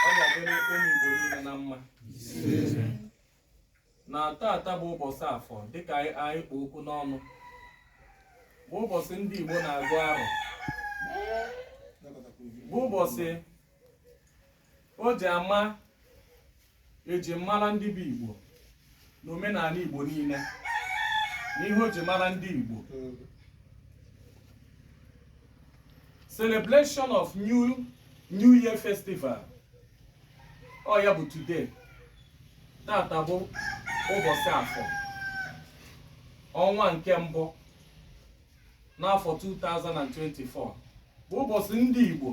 ọ ga-adịrị ụmụ Igbo niile na mma na tata bụ ụbọchị afọ dịka anyị anyị kpụ okwu n'ọnụ bụ ụbọchị ndị Igbo na-agụ arọ bụ ụbọchị o ji ama eji mara ndị bụ Igbo na omenala Igbo niile na ihe o ji mara ndị Igbo celebration of new new year festival ọ ya bụ today tata bụ ụbọchị afọ ọnwa nke mbụ n'afọ 2024 bụ ụbọchị ndị Igbo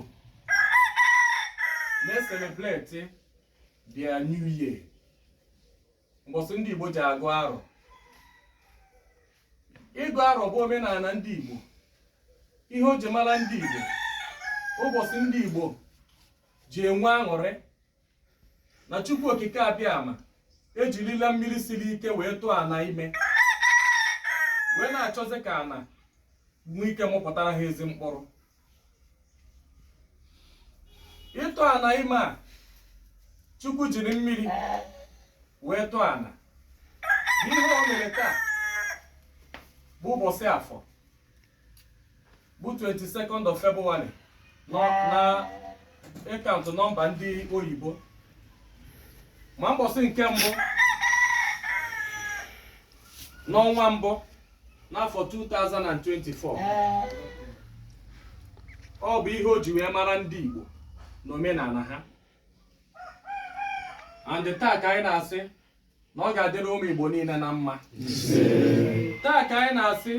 na-eselebreti their new year mbọsị ndị Igbo ji agụ arọ ịgụ arọ bụ omenala ndị Igbo ihe o ji mara ndị Igbo ụbọchị ndị Igbo ji enwe aṅụrị na Chukwu Okike Abịama ejirila mmiri siri ike wee tụọ ana ime wee na-achọzi ka ana nwee ike mụpụtara ha ezi mkpụrụ ịtụ ana ime a chukwu jiri mmiri wee tụọ ana ihe o mere taa bụ ụbọchị afọ bụ 22nd of February na ịkaụntụ nọmba ndị oyibo ma mbọsị nke mbụ n'ọnwa mbụ n'afọ 2024 ọ bụ ihe o ji wee mara ndị Igbo na omenala ha and taa ka anyị na-asị na ọ ga-adịrị ụmụ Igbo niile na mma isee taa ka anyị na-asị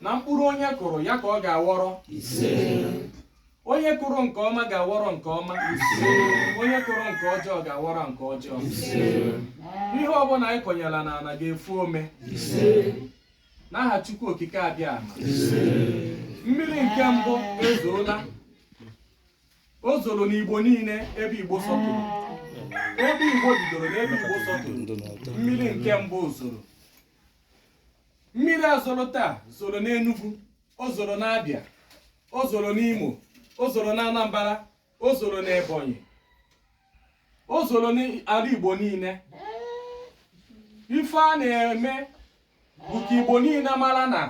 na mkpụrụ onye kụrụ ya ka ọ ga-aghọrọ onye kụrụ nke ọma ga-aghọrọ nke ọma onye kụrụ nke ọjọọ ga-aghọrọ nke ọjọọ ihe ọbụla anyị kọnyela n'ala ga-efu ome n'aha Chukwu Okike Abịama mmiri nke mbụ ezoola o zoro n'Igbo niile ebe Igbo sọtụrụ ebe Igbo bidoro na ebe Igbo sọtụrụ mmiri nke mbụ zoro mmiri a zoro taa zoro n'Enugu o zoro n'Abịa o zoro n'Imo o zoro n'Anambra o zoro n'Ebonyi o zoro n'ala Igbo niile ife a na-eme bụ ka Igbo niile mara na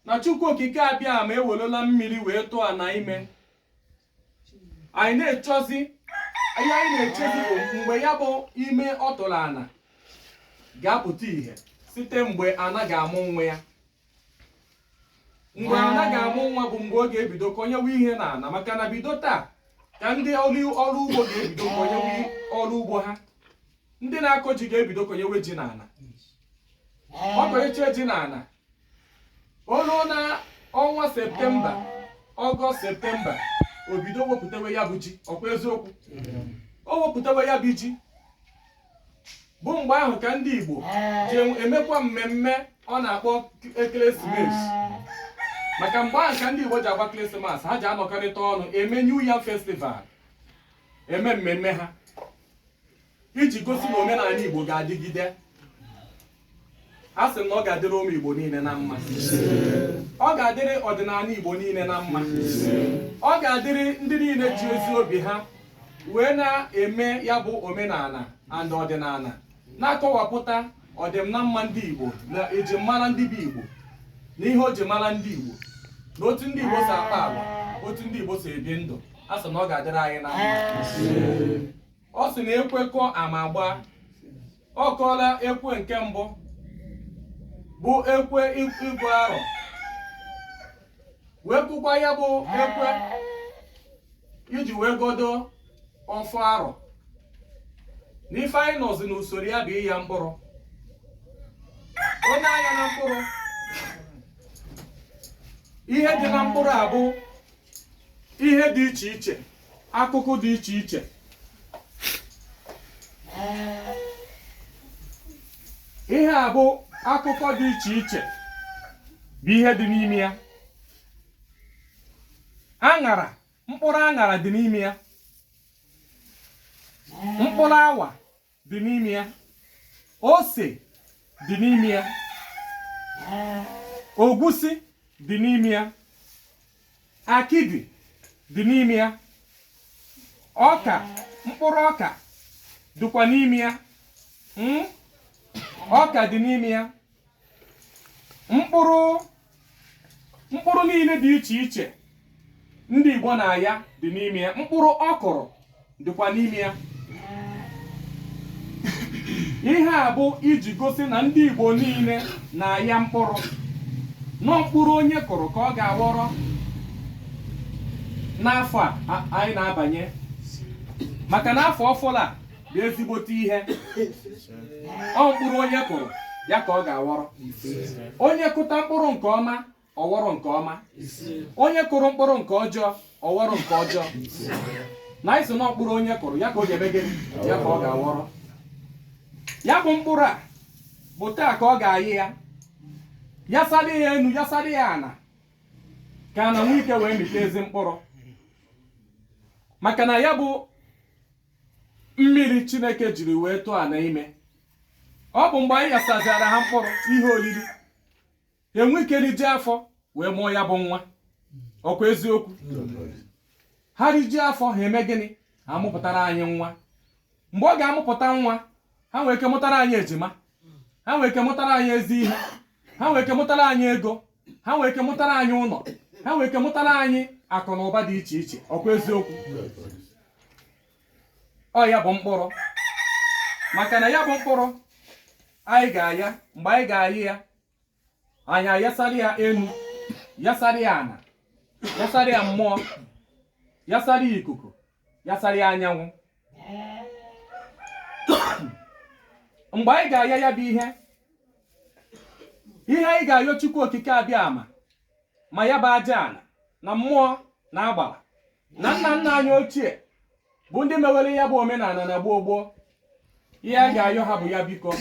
na Chukwu Okike abịa ma ewelola mmiri wee tụọ ana ime anyị na-echezi ihe anyị na-echezi bụ mgbe ya bụ ime ọ tụrụ ana ga-apụta ihe site mgbe ana ga-amụ nwa ya mgbe ana ga-amụ nwa bụ mgbe ọ ga-ebido kọnyewe ihe na ana maka na bido taa ka ndị ọrụ ugbo ga-ebido kọnyewe ọrụ ugbo ha ndị na-akọ ji ga-ebido kọnyewe ji na ana ọ kọnyecha ji na ana o ruo na ọnwa septemba ọgọst septemba o bido wepụtawe ya bụ ji ọkwa eziokwu o wepụtawe ya bụ ji bụ mgbe ahụ ka ndị igbo ji emekwa mmemme ọ na-akpọ ekeresimesi maka mgbe ahụ ka ndị igbo ji agba christmas ha ji anọkọrịta ọnụ eme new yam festival eme mmemme ha iji gosi na omenana Igbo ga-adịgide a sị na ọ ga-adịrị ụmụ Igbo niile na mma ọ ga-adịrị ọdịnana Igbo niile na mma ọ ga-adịrị ndị niile ji ezi obi ha wee na-eme ya bụ omenana and ọdịnana na-akọwapụta ọdịm na mma ndị Igbo na eji mara ndị bụ Igbo na ihe o ji mara ndị Igbo na otu ndị Igbo si akpa agwa otu ndị Igbo si ebi ndụ a sị na ọ ga-adịrị anyị na mma ọ sị na ekwe kụọ ama agbaa ọ kụọla ekwe nke mbụ bụ ekwe ịgụ arọ wee kụkwa ya bụ ekwe iji wee gọdo ọfọ arọ n'ife anyị nọzi n'usoro ya bụ ịya mkpụrụ o nee anya na mkpụrụ ihe dị na mkpụrụ a bụ ihe dị iche iche akụkụ dị iche iche ihe a bụ akụkụ dị iche iche bụ ihe dị n'ime ya aṅara mkpụrụ aṅara dị n'ime ya mkpụrụ awa dị n'ime ya ose dị n'ime ya ogwusi dị n'ime ya akidi dị n'ime ya ọka mkpụrụ ọka dịkwa n'ime ya hmm? ọka dị n'ime ya mkpụrụ mkpụrụ niile dị iche iche ndị Igbo na-aya dị n'ime ya mkpụrụ ọkụrụ dịkwa n'ime ya ihe a bụ iji gosi na ndị Igbo niile na-aya mkpụrụ na ọ mkpụrụ onye kụrụ ka ọ ga-aghọrọ n'afọ a anyị na-abanye maka na afọ ọfụrụ a bụ ezigbote ihe ọ mkpụrụ onye kụrụ ya ka ọ ga-aghọrọ onye kụta mkpụrụ nke ọma ọ ghọrọ nke ọma onye kụrụ mkpụrụ nke ọjọọ ọ ghọrọ nke ọjọọ na anyị sị na mkpụrụ onye kụrụ ya ka ọ ga-eme gịnị ya ka ọ ga-aghọrọ ya bụ mkpụrụ a bụ taa ka ọ ga-ayị ya yasara ya enu yasara ya ana ka ana nwee ike wee mịta ezi mkpụrụ maka na ya bụ mmiri chineke jiri wee tụọ ana ime ọ bụ mgbe anyị yasazịara ha mkpụrụ ihe oriri e nwee ike riji afọ wee mụọ ya bụ nwa ọkwa eziokwu ha riji afọ ha eme gịnị ha amụpụtara anyị nwa mgbe ọ ga-amụpụta nwa ha nwee ike mụtara anyị ejima ha nwee ike mụtara anyị ezi ihe ha nwee ike mụtara anyị ego ha nwee ike mụtara anyị ụnọ ha nwee ike mụtara anyị akụ na ụba dị iche iche ọkwa eziokwu ọ ya bụ mkpụrụ maka na ya bụ mkpụrụ anyị ga-aya mgbe anyị ga-ayị ya anyị ayasara ya enu yasara ya ana yasara ya mmụọ yasara ya ikuku yasara ya anyanwụ mgbe anyị ga-aya ya bụ ihe ihe anyị ga-ayọ Chukwu Okike Abịama ma ya bụ aja ana na mmụọ na agbara na nna nna anyị ochie bụ ndị mewere ya bụ omenana na gboo gboo ihe anyị ga-ayọ ha bụ ya biko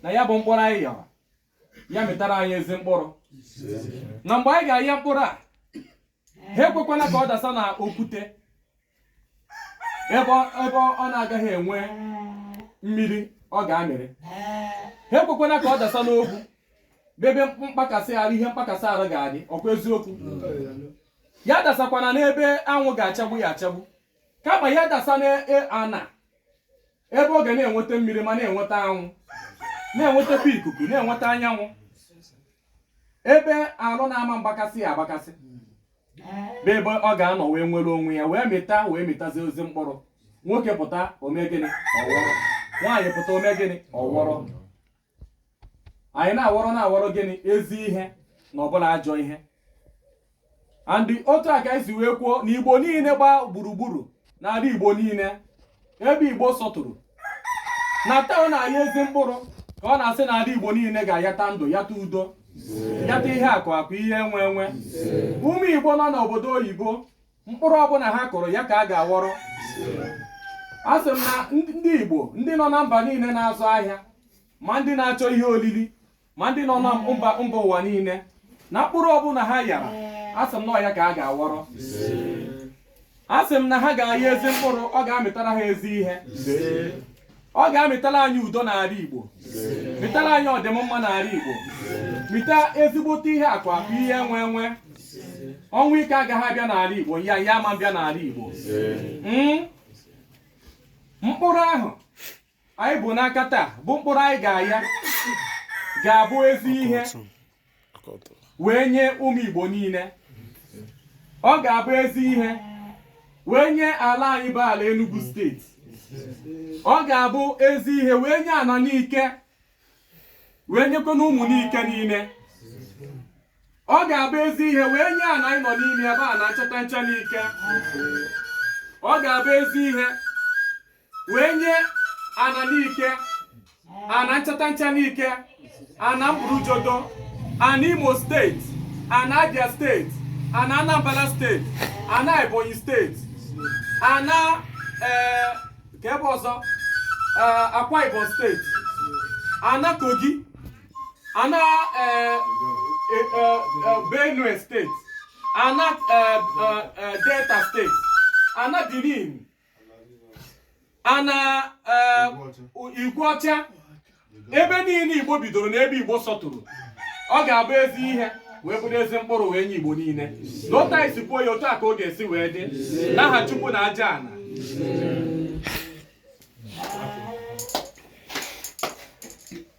na ya bụ mkpụrụ anyị yara ya mịtara anyị ezi mkpụrụ na mgbe anyị ga-aya mkpụrụ a ha ekwekwana ka ọ dasa na okwute ebe ọ na-agaghị enwe mmiri ọ ga-amịrị ha ekwekwana ka ọ dasa n'ogwu bụ ebe mkpakasị arụ ihe mkpakasị arụ ga-adị ọkwa eziokwu ya dasakwana n'ebe anwụ ga-achagbu ya achagbu kama ya dasa n'ana e, ebe ọ ga na-enweta mmiri ma na-enweta anwụ na-enwetakwa ikuku na-enweta anyanwụ ebe arụ na-ama agbakasị ya agbakasị bụ ebe ọ ga-anọ wee nwere onwe ya wee mịta wee mịtazi ezi mkpụrụ nwoke pụta o mee gịnị ọ wọrọ nwaanyị pụta o mee gịnị ọ wọrọ anyị na-awọrọ na-awọrọ gịnị ezi ihe na ọ bụrọ ajọ ihe and otu a ka anyị si wee kwuo na igbo niile gbaa gburugburu n'ala igbo niile ebe igbo sọtụrụ na taa ọ na-aya ezi mkpụrụ ka ọ na-asị na ala igbo niile ga-ayata ndụ yata udo yata ihe akụ akụ ihe enwe enwe ụmụ igbo nọ n'obodo oyibo mkpụrụ ọbụla ha kụrụ ya ka a ga-aghọrọ a sị m na ndị Igbo ndị nọ na mba niile na-azụ ahịa ma ndị na-achọ ihe olili ma ndị nọ na mba ụwa niile na mkpụrụ ọbụla ha yara a sị m na ọ ya ka a ga-aghọrọ a sị m na ha ga-aya ezi mkpụrụ ọ ga-amịtara ha ezi ihe ọ ga-amịtara anyị udo n'ala Igbo mịtara anyị ọdịmma n'ala Igbo mịta ezigbote ihe akụ akụ ihe enwe enwe ọnwụ ike agaghị abịa n'ala Igbo ya ya ama bịa n'ala Igbo hmm? mkpụrụ ahụ anyị bu n'aka taa bụ mkpụrụ anyị ga-aya ga-abụ ezi ihe wee nye ụmụ Igbo niile ọ ga-abụ ezi ihe wee nye ala anyị bụ ala Enugu steeti ọ ga-abụ ezi ihe wee nye ana Nike wee nyekwa na ụmụ Nike niile ọ ga-abụ ezi ihe wee nye ana anyị nọ n'ime ebe a na Nchatancha Nike ọ ga-abụ ezi ihe wee nye ana n'ike ana nchatancha n'ike ana mburujodo ana imo steeti ana abia steeti ana anambra steeti ana ebonyi steeti ana ee ka ebe ọzọ ee akwa ibom steeti ana kogi ana ee e, e, e, benue steeti ana ee, e, e, delta steeti ana benin ana eh, Igweọcha ebe niile igbo bidoro na ebe igbo sọtụrụ ọ ga-abụ ezi ihe wee bụrụ ezi mkpụrụ wee nye igbo niile na otu anyị si kwuo ya otu a ka ọ ga-esi wee dị n'aha chukwu na aja ana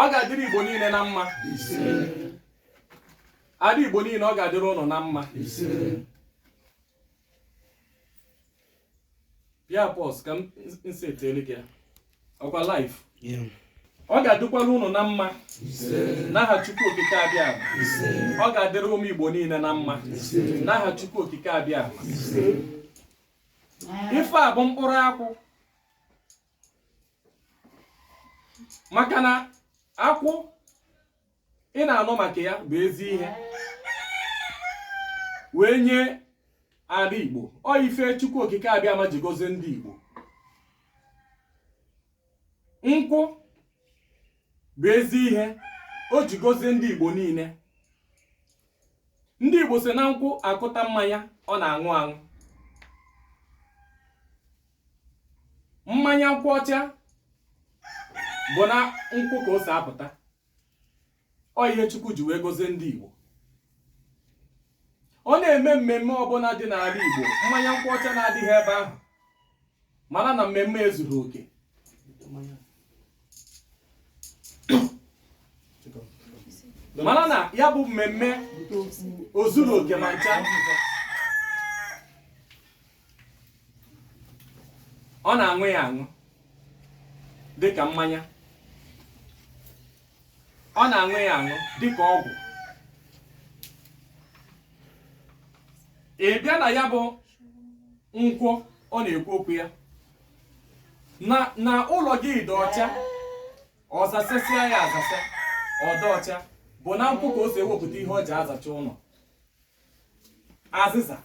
ọ ga-adịrị igbo niile na mma ada igbo niile ọ ga-adịrị ụnụ na mma pịa pause ka m setiele gị ya ọkwa live ọ ga-adịkwara ụnụ na mma n'aha Chukwu Okike Abịama ọ ga-adịrị ụmụ Igbo niile na mma n'aha Chukwu Okike Abịama ife a bụ mkpụrụ akwụ maka na akwụ ị na-anụ maka ya bụ ezi ihe wee nye ala igbo ọ ife chukwu okike abịama ji gozie ndị igbo nkwụ bụ ezi ihe o ji gozie ndị igbo niile ndị igbo si na nkwụ akụta mmanya ọ na-aṅụ aṅụ mmanya nkwụ ọcha bụ na nkwụ ka o si apụta ọ ihe Chukwu ji wee gozie ndị Igbo ọ na-eme mmemme ọbụla dị n'ala Igbo mmanya nkwụ ọcha na-adịghị ebe ahụ mara na mmemme ezuro oke mara na ya bụ mmemme o zuro oke ma ncha ọ na-aṅụ ya aṅụ dị ka mmanya ọ na-aṅụ ya aṅụ dị ka ọgwụ ị bịa na ya bụ nkwụ ọ na-ekwu okwu ya na na ụlọ gị dị ọcha ọ zasasịa ya azasa ọ dị ọcha bụ na nkwụ ka o si ewepụta ihe ọ ji azacha ụlọ azịza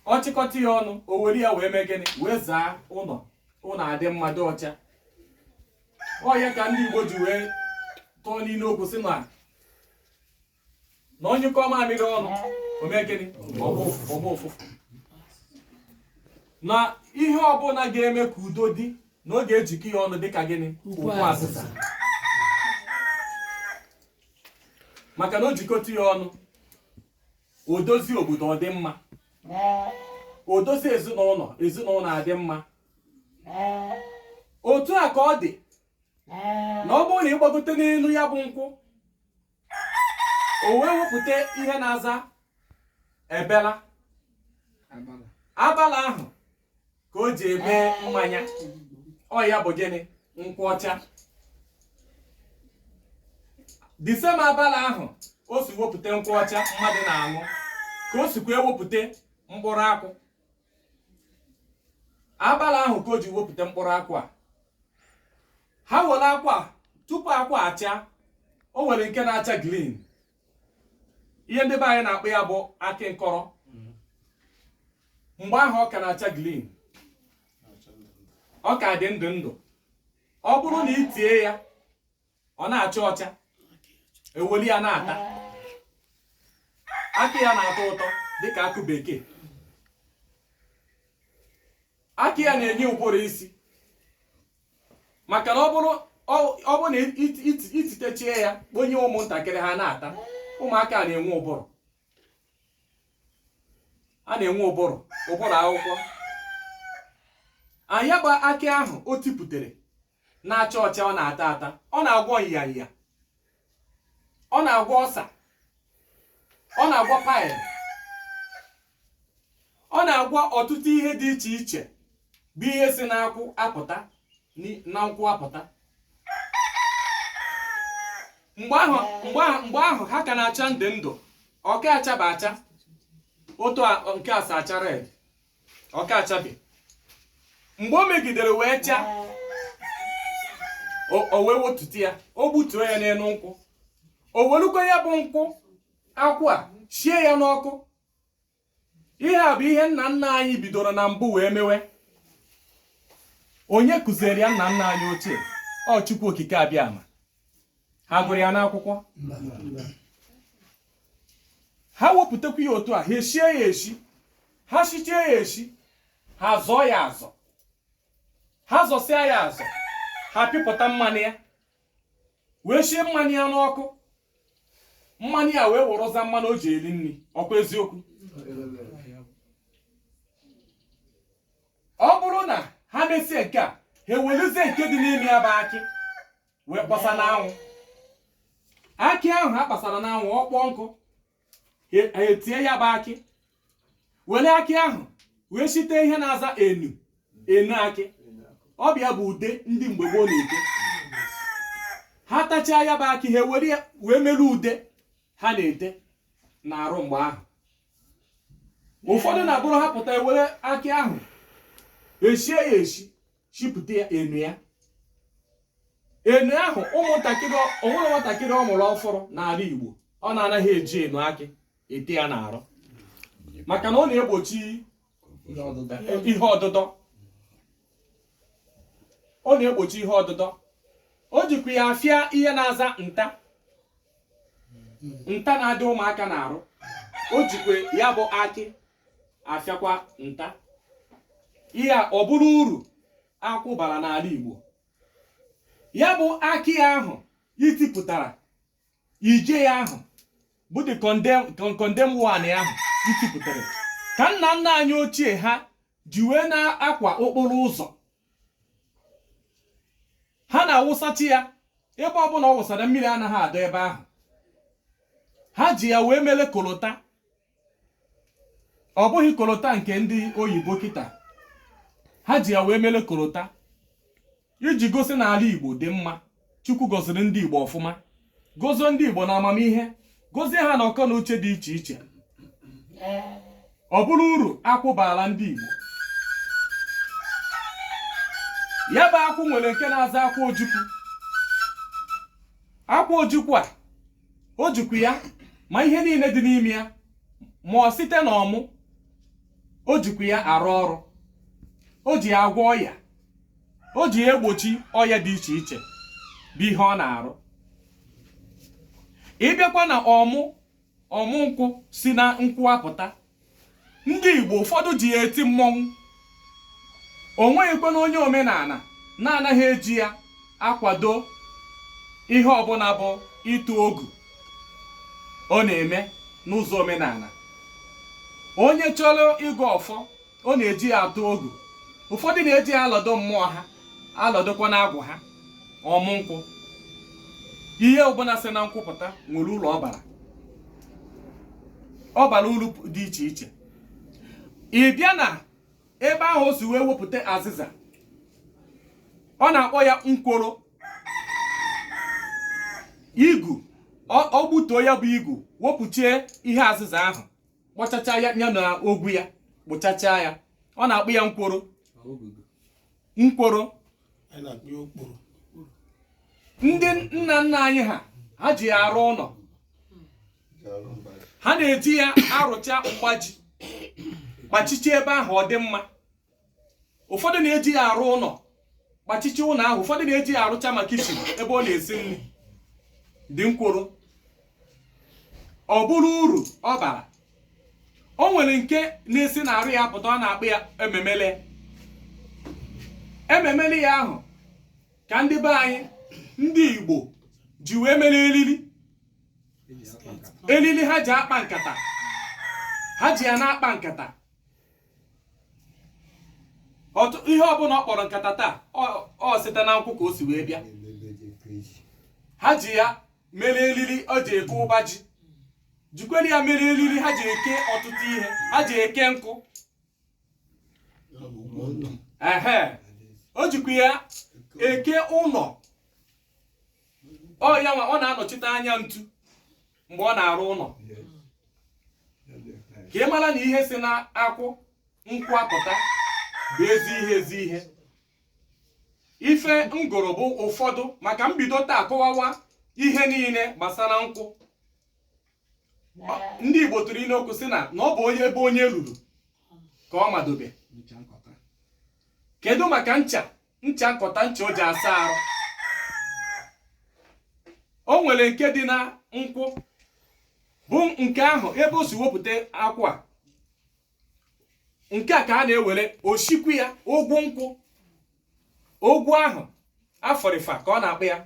ọ chịkọta ya ọnụ o were ya wee mee gịnị wee zaa ụlọ ụlọ adị mma dị ọcha ọ ya ka ndị Igbo ji wee tụọ n'ilu okwu sị na na ọ nyụkọọ mamịrị ọnụ o mee gịnị ọ gbaa ụfụfụ na ihe ọbụla ga-eme ka udo dị na ọ ga-ejikọ ya ọnụ dịka gịnị ukwu azịza maka na o jikọta ya ọnụ o dozie obodo ọ dị mma o dozie ezinụlọ ezinụlọ adị mma otu a ka ọ dị na ọ bụrụ na ị gbagote n'elu ya bụ nkwụ o wee wepụta ihe na-aza abala abala ahụ ka o ji eme mmanya ọ ya bụ gịnị nkwụ ọcha the same abala ahụ o si wepụta nkwụ ọcha mmadụ na-aṅụ ka o sikwa ewepụta mkpụrụ akwụ abala ahụ ka o ji wepụta mkpụrụ akwụ a ha were akwụ a tupu akwụ achaa o nwere nke na-acha green ihe ndị be anyị na-akpọ ya bụ akị nkọrọ mgbe ahụ ọ ka na-acha green ọ ka dị ndụ ndụ ọ bụrụ na i tie ya ọ na-acha ọcha e weli ya na-ata akị ya na-atọ ụtọ dịka akụ bekee akị ya na-enye ụbụrụ isi maka na ọ bụrụ ọ bụrụ na i titechie ya kponye ụmụntakịrị ha na-ata ụmụaka na-enwe ụbụrụ a na-enwe ụbụrụ ụbụrụ akwụkwọ nya bụ akị ahụ o tipụtare na-acha ọcha ọ na-ata ata ọ na-agwọ nyanya ọ na-agwọ ulcer ọ na-agwọ pile ọ na-agwọ ọtụtụ ihe dị iche iche bụ ihe si n'akwụ apụta ni- na nkwụ apụta mgbe ahụ mgbe ahụ mgbe ahụ ha ka na-acha ndụ ndụ ọ ka achaba acha otu a- nke asa acha red ọ ka achabe mgbe o megidere wee chaa o- o wee wetute ya o gbutuo ya n'elu nkwụ o welukwa ya bụ nkwụ akwụ a shie ya n'ọkụ ihe a bụ ihe nna nna anyị bidoro na mbụ wee mewe onye kụziere ya nna nna anyị ochie ọ Chukwu Okike Abịama ha gụrụ ya n'akwụkwọ ha wepụtakwa ya otu a ha eshie ya eshi ha shichie ya eshi ha zọọ ya azọ ha zọsịa ya azọ ha pịpụta mmanụ ya wee shie mmanụ ya n'ọkụ mmanụ ya wee wụrụza mmanụ o ji eri nri ọkwa eziokwu ọ bụrụ na ha mesie nke a ha eweluzie nke dị n'ime ya bụ akị wee kpọsa n'anwụ akị ahụ ha kpasara n'anwụ ọ kpọọ nkụ ha etie ya bụ akị were akị ahụ wee site ihe na-aza enu enu akị ọ bụ ya bụ ude ndị mgbe gboo na-ete ha tachaa ya bụ akị ha were ya wee mere ude ha na-ete n'arụ mgbe ahụ ụfọdụ na-abụrụ ha pụta e were akị ahụ eshie ya eshi shipụta ya enu ya enu ahụ o nwere nwatakịrị ọ mụrụ ọfụrụ n'ala Igbo ọ na-anaghị eji enu akị ete ya n'arụ maka na ọ na-egbochi ihe ọdụdọ ọ na-egbochi ihe ọdụdọ o jikwa ya afịa ihe na-aza nta nta na-adị ụmụaka n'arụ o jikwa ya bụ akị afịakwa nta ihe a ọ bụrụ uru akwụ bara n'ala Igbo ya bụ akị ahụ i tipụtara ije ya ahụ bụ the condemn one ahụ i tipụtara ka nna nna anyị ochie ha ji wee na-akwa okporo ụzọ ha na-awụsachi ya ebe ọbụla ọ wụsara mmiri anaghị adọ ebe ahụ ha ji ya wee mele kolota ọ bụghị kolota nke ndị oyibo kịta ha ji ya wee mere kolota iji gosi na ala igbo dị mma chukwu gọziri ndị igbo ọfụma gozie ndị igbo na amamihe gozie ha na akọ na uche dị iche iche ọ bụrụ uru akwụ baara ndị igbo ya bụ akwụ nwere nke na-aza akwụ ojukwu akwụ ojukwu a o jikwa ya ma ihe niile dị n'ime ya ma ọ site na ọmụ o jikwa ya arụ ọrụ o ji ya agwọ ọya o ji ya egbochi ọya dị iche iche bụ ihe ọ na-arụ ị bịakwa na ọmụ ọmụ nkwụ si na nkwụ apụta ndị Igbo ụfọdụ ji ya eti mmọnwụ o nweghịkwanụ onye omenala na-anaghị eji ya akwado ihe ọbụla bụ ịtụ ogu ọ na-eme n'ụzọ omenala onye chọrọ ịgọ ọfọ ọ na-eji ya atụ ogu ụfọdụ na-eji ya alọdọ mmụọ ha alọdọkwa na agwụ ha ọmụ nkwụ ihe ọbụla si na nkwụ apụta nwere uru ọ bara ọ bara uru dị iche iche ị bịa na ebe ahụ o si wee wepụta azịza ọ na-akpọ ya nkworo igu ọ gbutuo ya bụ igu wepụchie ihe azịza ahụ kpọchacha ya na ogwu ya kpụchacha ya ọ na-akpọ ya nkworo nkworo ndị nna nna anyị ha ha ji ya arụ ụlọ ha na-eji ya arụcha mgbaji kpachichi ebe ahụ ọ dị mma ụfọdụ na-eji ya arụ ụlọ kpachichi ụlọ ahụ ụfọdụ na-eji ya arụcha ma kichin ebe ọ na-esi nri dị nkworo ọ bụrụ uru ọ bara o nwere nke na-esi na arụ ya pụta ọ na-akpọ ya ememele ememele ya ahụ ka ndị be anyị ndị Igbo ji wee mere eriri eriri ha ji akpa nkata ha ji ya na-akpa nkata ihe ọbụla ọ kpọrọ nkata taa o site na nkwụ ka o si wee bịa ha ji ya mere eriri o ji eke ọba ji jikwere ya mere eriri ha ji eke ọtụtụ ihe ha ji eke nkụ ehe o jikwa ya eke ụlọ ọ ya nwa ọ na-anọchite anya ntu mgbe ọ na-arụ ụlọ ka ị mara na ihe si na akwụ nkwụ apụta bụ ezi ihe ezi ihe ife m gụrụ bụ ụfọdụ maka m bido taa kọwawa ihe niile gbasara nkwụ ndị Igbo tụrụ ilu okwu sị na na ọ bụ onye ebe onye ruru ka ọ madobe kedu maka ncha ncha nkọta ncha o ji asa arụ o nwere nke dị na nkwụ bụ nke ahụ ebe o si wepụta akwụ a nke a ka a na-ewere osikwu ya ogwu nkwụ ogwu ahụ afọrịfa ka ọ na-akpọ ya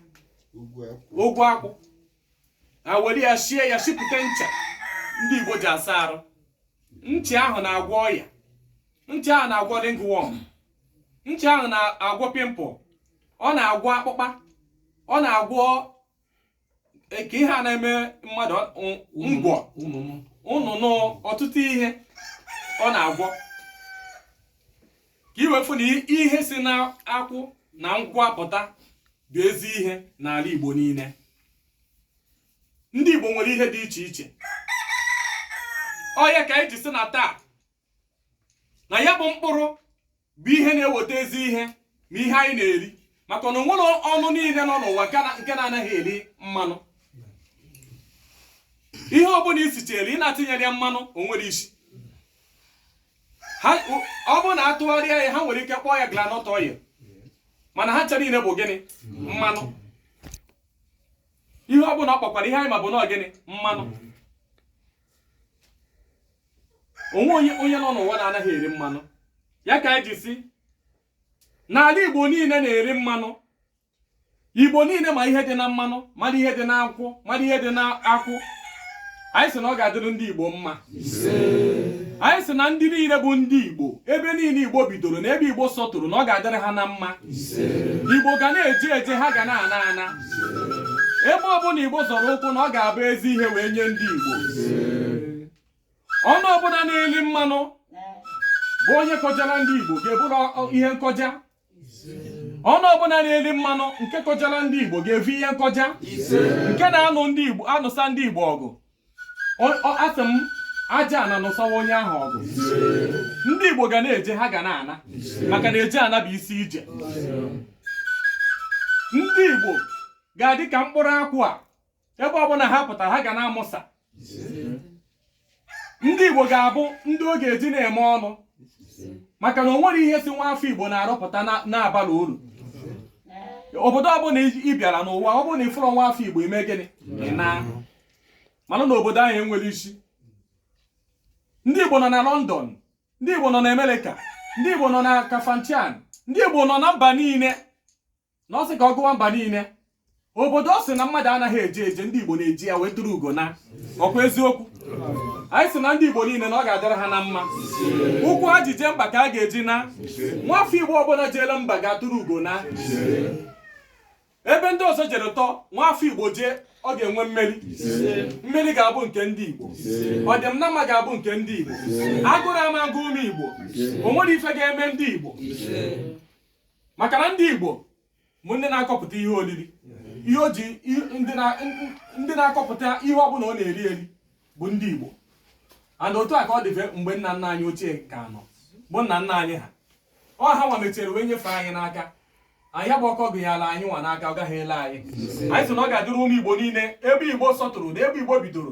ogwu akwụ ha were ya sie ya sipụta ncha ndị Igbo ji asa arụ ncha ahụ na-agwọ ọya ncha ahụ na-agwọ ringworm ncha ahụ na-agwọ pimple ọ na-agwọ akpụkpa ọ na-agwọ e, ka ihe a na-eme mmadụ ngwọ ụnụnụ ọtụtụ ihe ọ na-agwọ ka i wee fụ na ihe si na akwụ na nkwụ apụta bụ ezi ihe n'ala Igbo niile ndị Igbo nwere ihe dị iche iche ọ ya ka anyị ji sị na taa na ya bụ mkpụrụ bụ ihe na-eweta ezi ihe ma ihe anyị na-eri maka na o nwere ọnụ niile nọ n'ụwa nke na-anaghị eri mmanụ ihe ọbụla i sichere ị na-atinyere ya mmanụ o nwere isi ha ọ bụrụ na a tụgharịa ya ha nwere ike kpọọ ya groundnut oil mana ha ncha niile bụ gịnị mmanụ ihe ọ bụla ọ kpọkwara ihe anyị ma bụ na gịnị mmanụ o nwe onye nọ n'ụwa na-anaghị eri mmanụ ya ka anyị ji sị n'ala Igbo niile na-eri mmanụ igbo niile ma ihe dị na mmanụ mara ihe dị n'akwụ mara ihe dị n'akwụ anyị sị na ọ ga-adịrị ndị igbo mma anyị sị na ndị niile bụ ndị igbo ebe niile igbo bidoro na ebe igbo sọtụrụ na ọ ga-adịrị ha na mma igbo ga na-eje eje ha ga na-ana ana ebe ọbụla igbo zọrọ ụkwụ na ọ ga-abụ ezi ihe wee nye ndị igbo ọnụ ọbụla na-eli mmanụ bụ onye kọjara ndị igbo ga-eburu ihe nkọja ọnụ ọbụla na-eli mmanụ nke kọjara ndị Igbo ga-evu ihe nkọja nke na-anụ ndị Igbo anụsa ndị Igbo ọgụ asị m aja ana nụsawa onye ahụ ọgụ ndị Igbo ga na-eje ha ga na-ana maka na eje ana bụ isi ije ndị Igbo ga-adị ka mkpụrụ akwụ a ebe ọbụla ha pụtara ha ga na-amụsa ndị Igbo ga-abụ ndị ọ ga-eji na-eme ọnụ maka na o nwere ihe si nwa afọ Igbo na-arụpụta na-abala uru obodo ọbụla ị bịara n'ụwa ọ bụrụ na ị fụrọ nwa afọ Igbo i mee gịnị ị na mana na obodo ahụ enwere isi ndị Igbo nọ na London ndị Igbo nọ na America ndị Igbo nọ na Kafanchan ndị Igbo nọ na mba niile na ọ sị ka ọ gụwa mba niile obodo ọ sị na mmadụ anaghị eje eje ndị igbo na-eje ya wee tụrụ ugo na ọ kwa eziokwu anyị sị na ndị igbo niile na ọ ga-adịrị ha na mma ụkwụ ha ji jee mba ka ha ga-eji na nwafọ igbo ọbụla jeela mba ga-atụrụ ugo na ebe ndị ọzọ jere tọ nwafọ igbo jee ọ ga-enwe mmeri mmeri ga-abụ nke ndị igbo ọdị na mma ga-abụ nke ndị igbo agụrụ ama agụ ụmụ igbo o nwere ife ga-eme ndị igbo maka na ndị Igbo bụ ndị na-akọpụta ihe oriri ihe o ji ndị na-akọpụta ihe ọ bụla ọ na-eri eri bụ ndị Igbo and otu a ka ọ dịfe mgbe nna nna anyị ochie ka nọ bụ nna nna anyị ha ọ ha nwa mechara wee nyefee anyị n'aka ya bụ ọkụ a gụnyere anyị nwa n'aka ọ gaghị ele anyị anyị sị na ọ ga-adịrị ụmụ Igbo niile ebe Igbo sọtụrụ na ebe Igbo bidoro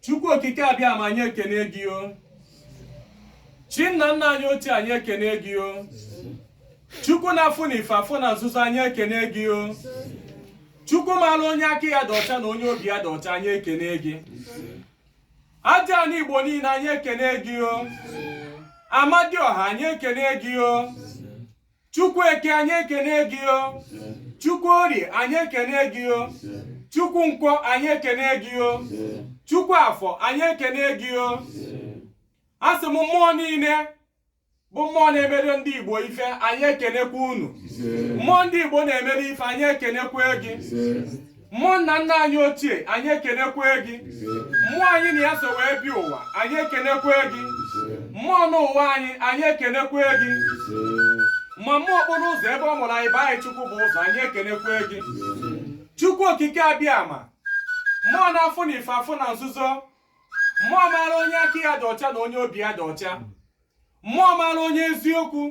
chukwu okike abịama anyị ekene gị o chi nna nna anyị ochie anyị ekene gị o chukwu na-afụ na ife afụ na nzuzo anyị ekene gị o chukwu mara onye aka ya dị ọcha na onye obi ya dị ọcha anyị ekene gị Aja ana Igbo niile anyị ekene gị o Amadioha anyị ekene gị o Chukwu Eke anyị ekene gị o Chukwu Orie anyị ekene gị o Chukwu Nkwọ anyị ekene gị o Chukwu Afọ anyị ekene gị o asị m mmụọ niile bụ mmụọ na-emere ndị Igbo ife anyị ekenekwa unu mmụọ ndị Igbo na-emere ife anyị ekenekwa gị mmụọ nna nna anyị ochie anyị ekenekwa gị mmụọ anyị na ya so wee bịa ụwa anyị ekenekwa gị mmụọ n'ụwa anyị anyị ekenekwa gị ma mmụọ okporo ụzọ ebe ọ mụrụ anyị bụ anyị Chukwubụzọ anyị ekenekwa gị Chukwu okike abịama mmụọ na-afụ na ife afụ na nzuzo mmụọ maara onye aka ya dị ọcha na onye obi ya dị ọcha mmụọ maara onye eziokwu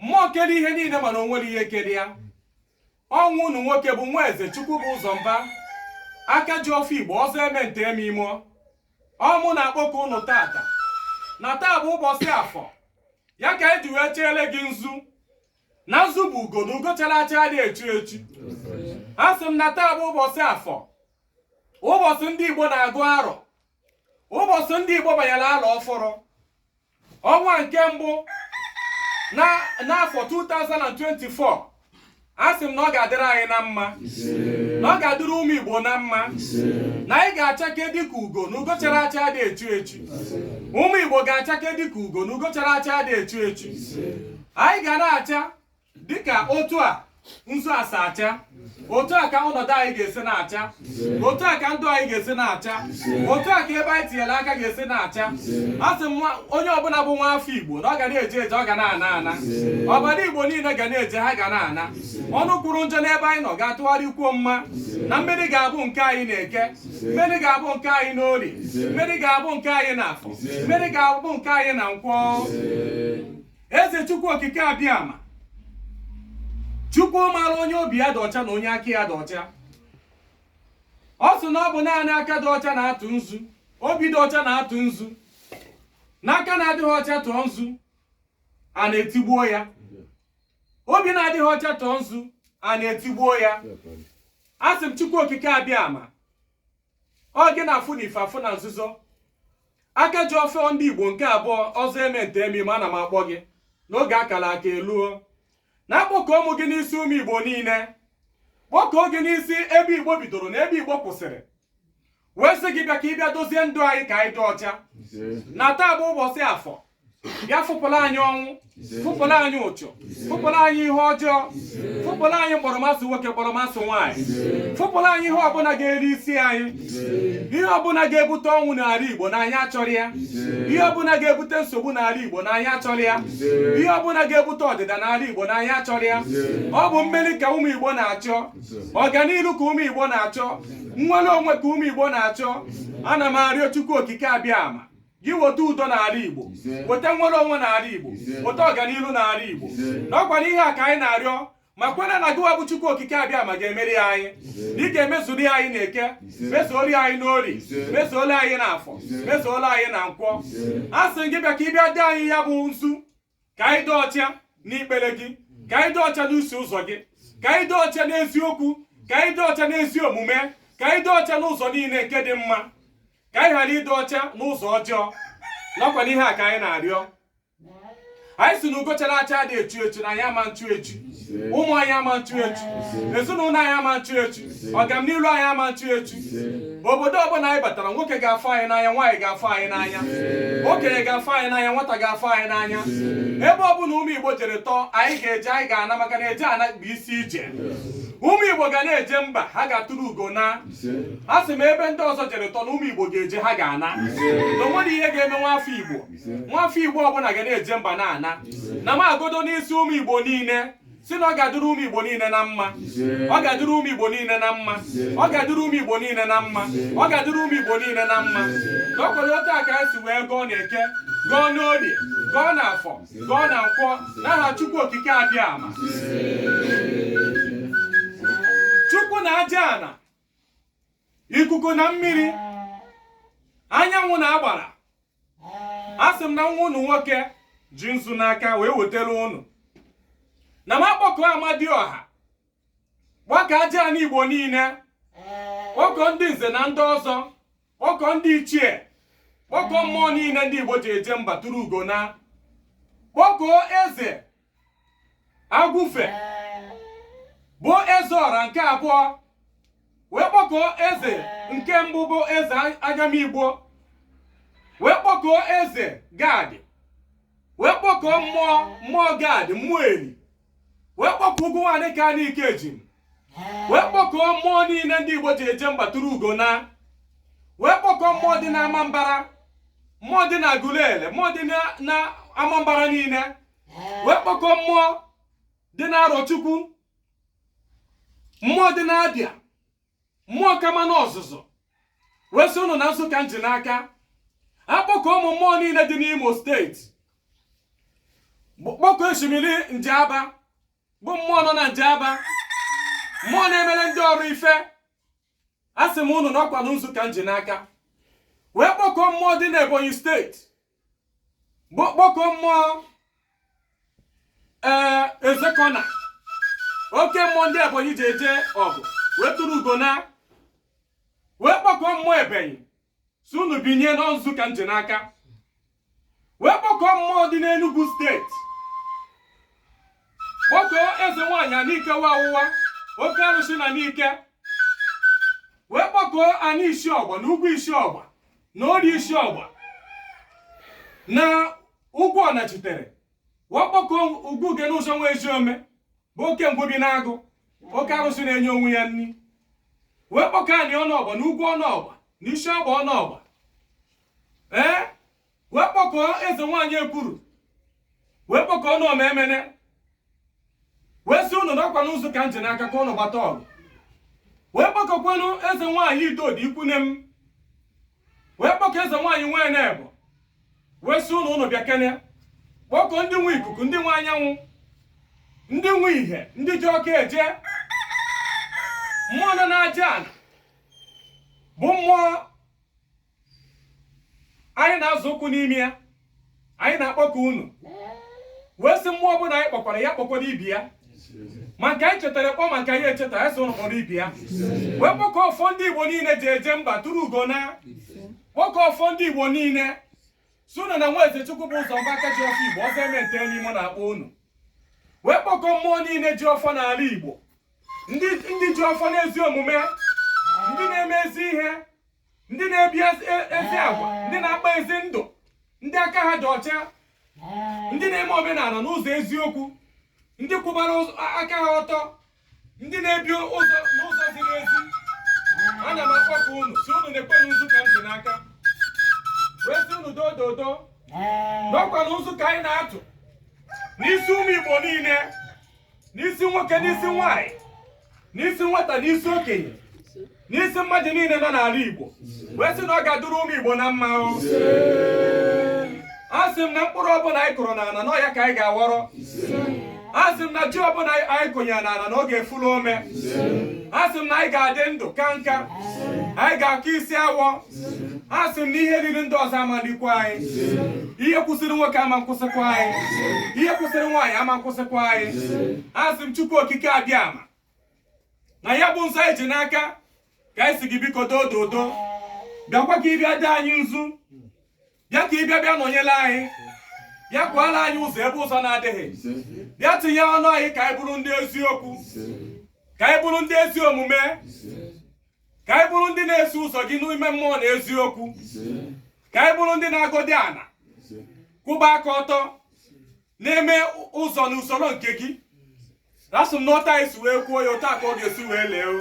mmụọ kere ihe niile mana o nwerọ ihe kere ya ọ nwa unu nwoke bụ Nwaeze Chukwubụzọ Mba aka ji ọfọ igbo ọzọ eme nta eme imo ọ mụ na-akpọkọ unu tata na taa bụ ụbọchị afọ ya ka anyị ji wee cheele gị nzu na nzu bụ ugo na ugo chara acha adị echu echu a sị m na taa bụ ụbọchị afọ ụbọchị ndị Igbo na-agụ arọ ụbọchị ndị Igbo banyere arọ ọfụrụ ọnwa nke mbụ n'afọ 2024 a sị m na ọ ga-adịrị anyị na mma na ọ ga-adịrị ụmụ Igbo na mma na anyị ga-achake dịka ugo na ugo chara acha adị echu echu ụmụ Igbo ga-achake dịka ugo na ugo chara acha adị echu echu anyị ga na-acha dịka otu a nzu a si acha otu a ka ọnọdụ anyị ga-esi na-acha otu a ka ndụ anyị ga-esi na-acha otu a ka ebe anyị tinyere aka ga-esi na-acha a sị m onye ọbụla bụ nwa afọ igbo na ọ ga na-eje eje ọ ga na-ana ana ọbara igbo niile ga na-eje ha ga na-ana ọnụ kwuru njọ n'ebe anyị nọ ga-atụgharịa kwuo mma na mmeri ga-abụ nke anyị n'eke mmeri ga-abụ nke anyị n'orie mmeri ga-abụ nke anyị na afọ mmeri ga-abụ nke anyị na nkwọ eze chukwu okike abịama chukwu maara onye obi ya dị ọcha na onye aka ya dị ọcha ọ sị na ọ bụ naanị aka dị ọcha na-atụ nzu obi dị ọcha na-atụ nzu na aka na-adịghị ọcha tụọ nzu ana etigbuo ya obi na-adịghị ọcha tụọ nzu ana etigbuo ya a sị m chukwu okike abịama ọ gị na-afụ na ife afụ na nzuzo aka ji ọfọ ndị igbo nke abụọ ọzọ eme nta eme imo ana m akpọ gị na oge a kara aka eluo na akpọkuo mụ gị n'isi ụmụ igbo niile kpọkuo gị n'isi ebe igbo bidoro na ebe igbo kwụsịrị wee sị gị bịa ka ị bịa dozie ndụ anyị ka anyị dị ọcha na taa bụ ụbọchị afọ bịa fụpụla anyị ọnwụ fụpụla anyị uchu fụpụla anyị ihe ọjọọ fụpụla anyị mkpọrọmasị nwoke mkpọrọmasị nwaanyị fụpụla anyị ihe ọbụla ga-eri isi anyị ihe ọbụla ga-ebute ọnwụ n'ala Igbo na anyị achọrọ ya ihe ọbụla ga-ebute nsogbu n'ala Igbo na anyị achọrọ ya ihe ọbụla ga-ebute ọdịda n'ala Igbo na anyị achọrọ ya ọ bụ mmeri ka ụmụ Igbo na-achọ ọganihu ka ụmụ Igbo na-achọ nnwere onwe ka ụmụ Igbo na-achọ ana m arịọ Chukwu Okike abịama gị weta udo n'ala Igbo weta nnwere onwe n'ala Igbo weta ọganihu n'ala Igbo na ọ kwanụ ihe a ka anyị na-arịọ ma kwenye na gịwa bụ Chukwu Okike abịama ga-emere ya anyị na ị ga-emezuli anyị na eke mezuoli anyị n'orie mezuoli anyị na afọ mezuoli anyị na nkwọ a sị gị bịa ka ị bịa dee anyị ya bụ nzu ka anyị dị ọcha n'ikpere gị ka anyị dị ọcha n'iso ụzọ gị ka anyị dị ọcha n'eziokwu ka anyị dị ọcha n'ezi omume ka anyị dị ọcha n'ụzọ niile nke dị mma ka anyị ghara ịdị ọcha n'ụzọ ọjọọ na ọ kwanụ ihe a ka anyị na-arịọ anyị sị na ugo chara acha adị echu echu na anyị ama nchu echu ụmụ anyị ama nchu echu ezinụlọ anyị ama nchu echu ọganiru anyị ama nchu echu obodo ọbụla anyị batara nwoke ga-afụ anyị n'anya nwaanyị ga-afụ anyị n'anya okenye ga-afụ anyị n'anya nwata ga-afụ anyị n'anya ebe ọbụla ụmụ Igbo jere tọọ anyị ga-eje anyị ga-ana maka na eje ana bụ isi ije ụmụ igbo ga na-eje mba ha ga-eturu ugo na a sị m ebe ndị ọzọ jere tọ na ụmụ igbo ga-eje ha ga-ana na o nwerọ ihe ga-eme nwa afọ igbo nwafọ igbo ọbụla ga na-eje mba na-ana na m agọdo n'isi ụmụ igbo niile sị na ọ ga-adịrị ụmụ igbo niile na mma ọ ga-adịrị ụmụ igbo niile na mma ọ ga-adịrị ụmụ igbo niile na mma ọ ga-adịrị ụmụ igbo niile na mma na ọ kwanụ otu a ka anyị si wee gọọ na eke gọọ n'orie gọọ na afọ gọọ na nkwọ n'aha chukwu okike abịama chukwu na aja ana ikuku na mmiri anyanwụ na agbara a sị m na nwa unu nwoke ji nzu n'aka wee wetara unu na m akpọkọ amadiọha gbakọ aja ana igbo niile kpọkọ ndị nze na ndị ọzọ kpọkọ ndị ichie kpọkọ mmụọ niile ndị igbo ji eje mba tụrụ ugo na kpọkọ eze agwụfe bụ eze ọra nke abụọ wee kpọkọọ eze nke mbụ bụ eze agamigbo wee kpọkọọ eze gad wee kpọkọọ mmụọ mmụọ gad mmụọ eri wee kpọkọọ ugwu nwaanyị ka anyị ike ji wee kpọkọọ mmụọ niile ndị igbo ji eje mba tụrụ ugo na wee kpọkọọ mmụọ dị na amambara mmụọ dị na aguleri mmụọ dị na amambara niile wee kpọkọ mmụọ dị n'arọchukwu mmụọ dị n'abịa mmụọ kamanụ ozuzu wee sị ụnụ na nzu ka m ji n'aka akpọkọ ụmụ mmụọ niile dị n'imo steeti kpọkọ osimiri njaba bụ mmụọ nọ na njaba mmụọ na-emere ndị ọrụ ife a sị m ụnụ na ọ kwanụ nzu ka m ji n'aka wee kpọkọ mmụọ dị n'ebonyi steeti kpọkọ mmụọ ee ezekuna oke mmụọ ndị ebonyi ji eje ọgụ wee tụrụ ugo na wee kpọkọ mmụọ ebenyi sị unu binye na nzu ka m ji n'aka wee kpọkọ mmụọ dị n'enugwu steeti kpọkọ eze nwaanyị anike nwawụwa oke arụsị na nike wee kpọkọọ anị isi ọgba na ugwu isi ọgba na ori isi ọgba na ugwu ọnachitere wee kpọkọ ugwu uge n'ụzọ nwa ezi ome bụ oke ngwu bi n'agụ oke arụsị na-enye onwe ya nri wee kpọkọ anị ọnụ ọgba na ugwu ọnụ ọgba na isi ọgba ọnụ ọgba ee wee kpọkọọ eze nwaanyị ekwuru wee kpọkọọ ọnụ ọma emene wee sị ụnụ na ọ kwanụ nzu ka m ji n'aka ka ụnụ gbata ọgụ wee kpọkọkwanụ eze nwaanyị idodo ikwunne m wee kpọkọ eze nwaanyị nwee na-ebo wee sị ụnụ ụnụ bịakene kpọkọ ndị nwe ikuku ndị nwe anyanwụ ndị nwe ihe ndị ji ọka eje mmụọ nọ n'aja ana bụ mmụọ anyị na-azọ ụkwụ n'ime ya anyị na-akpọkọ unu wee sị mmụọ ọbụla anyị kpọkwara ya kpọkwara ibe ya ma nke anyị chetara kpọ ma nke anyị echetaghị ya so kpọrọ ibe ya wee kpọkọ ọfọ ndị igbo niile ji eje mba tụrụ ugo na kpọkọ ọfọ ndị igbo niile sị unu na nwa eze chukwubụzọ mba aka ji ọfọ igbo ọzọ eme nta eme imo na-akpọ unu wee kpọkọ mmụọ niile ji ọfọ n'ala igbo ndị ji ọfọ n'ezi omume ndị na-eme ezi ihe ndị na-ebi ezi e, ezi agwa ndị na-akpa ezi ndụ ndị aka ha dị ọcha ndị na-eme omenala n'ụzọ eziokwu ndị kwụbara ụzọ- a- aka ha ọtọ ndị na-ebi ụzọ n'ụzọ ziri ezi ana m akpọkọ unu sị unu nekwanụ nzu ka m ji n'aka wee sị unu doo doo doo n'ọkwanụ nzu ka anyị na-atụ n'isi ụmụ igbo niile n'isi nwoke n'isi nwanyị n'isi nwata n'isi okenye n'isi mmadụ niile nọ n'ala Igbo wee sị na ọ ga-adụrụ ụmụ Igbo na mma asị m na mkpụrụ ọbụla anyị kụrụ n'ala na ọ ya ka anyị ga-aghọrọ asị m na ji ọbụla anyị kụnyere n'ala na ọ ga-efulu ome asị m na anyị ga-adị ndụ ka nka anyị ga-aka isi awọ a sị m na ihe riri ndị ọzọ amalikwa anyị ihe kwụsịrị nwoke ama nkwụsịkwa anyị ihe kwụsịrị nwaanyị ama nkwụsịkwa anyị a sị m chukwu okike abịama na ya bụ nzu anyị ji n'aka ka anyị sị gị biko doo dodo bịakwa ka ị bịa dee anyị nzu bịa ka ị bịa bịa nọnyere anyị bịa kwaala anyị ụzọ ebe ụzọ na-adịghị bịa tinye ọnụ anyị ka anyị bụrụ ndị eziokwu ka anyị bụrụ ndị ezi omume ka anyị bụrụ ndị na-eso ụzọ gị n'ime mmụọ na eziokwu ka anyị bụrụ ndị na-agọdị ana kwụba aka ọtọ na-eme ụzọ na usoro nke gị asị m n'otu a anyị si wee kwuo ya otu a ka ọ ga-esi wee lee o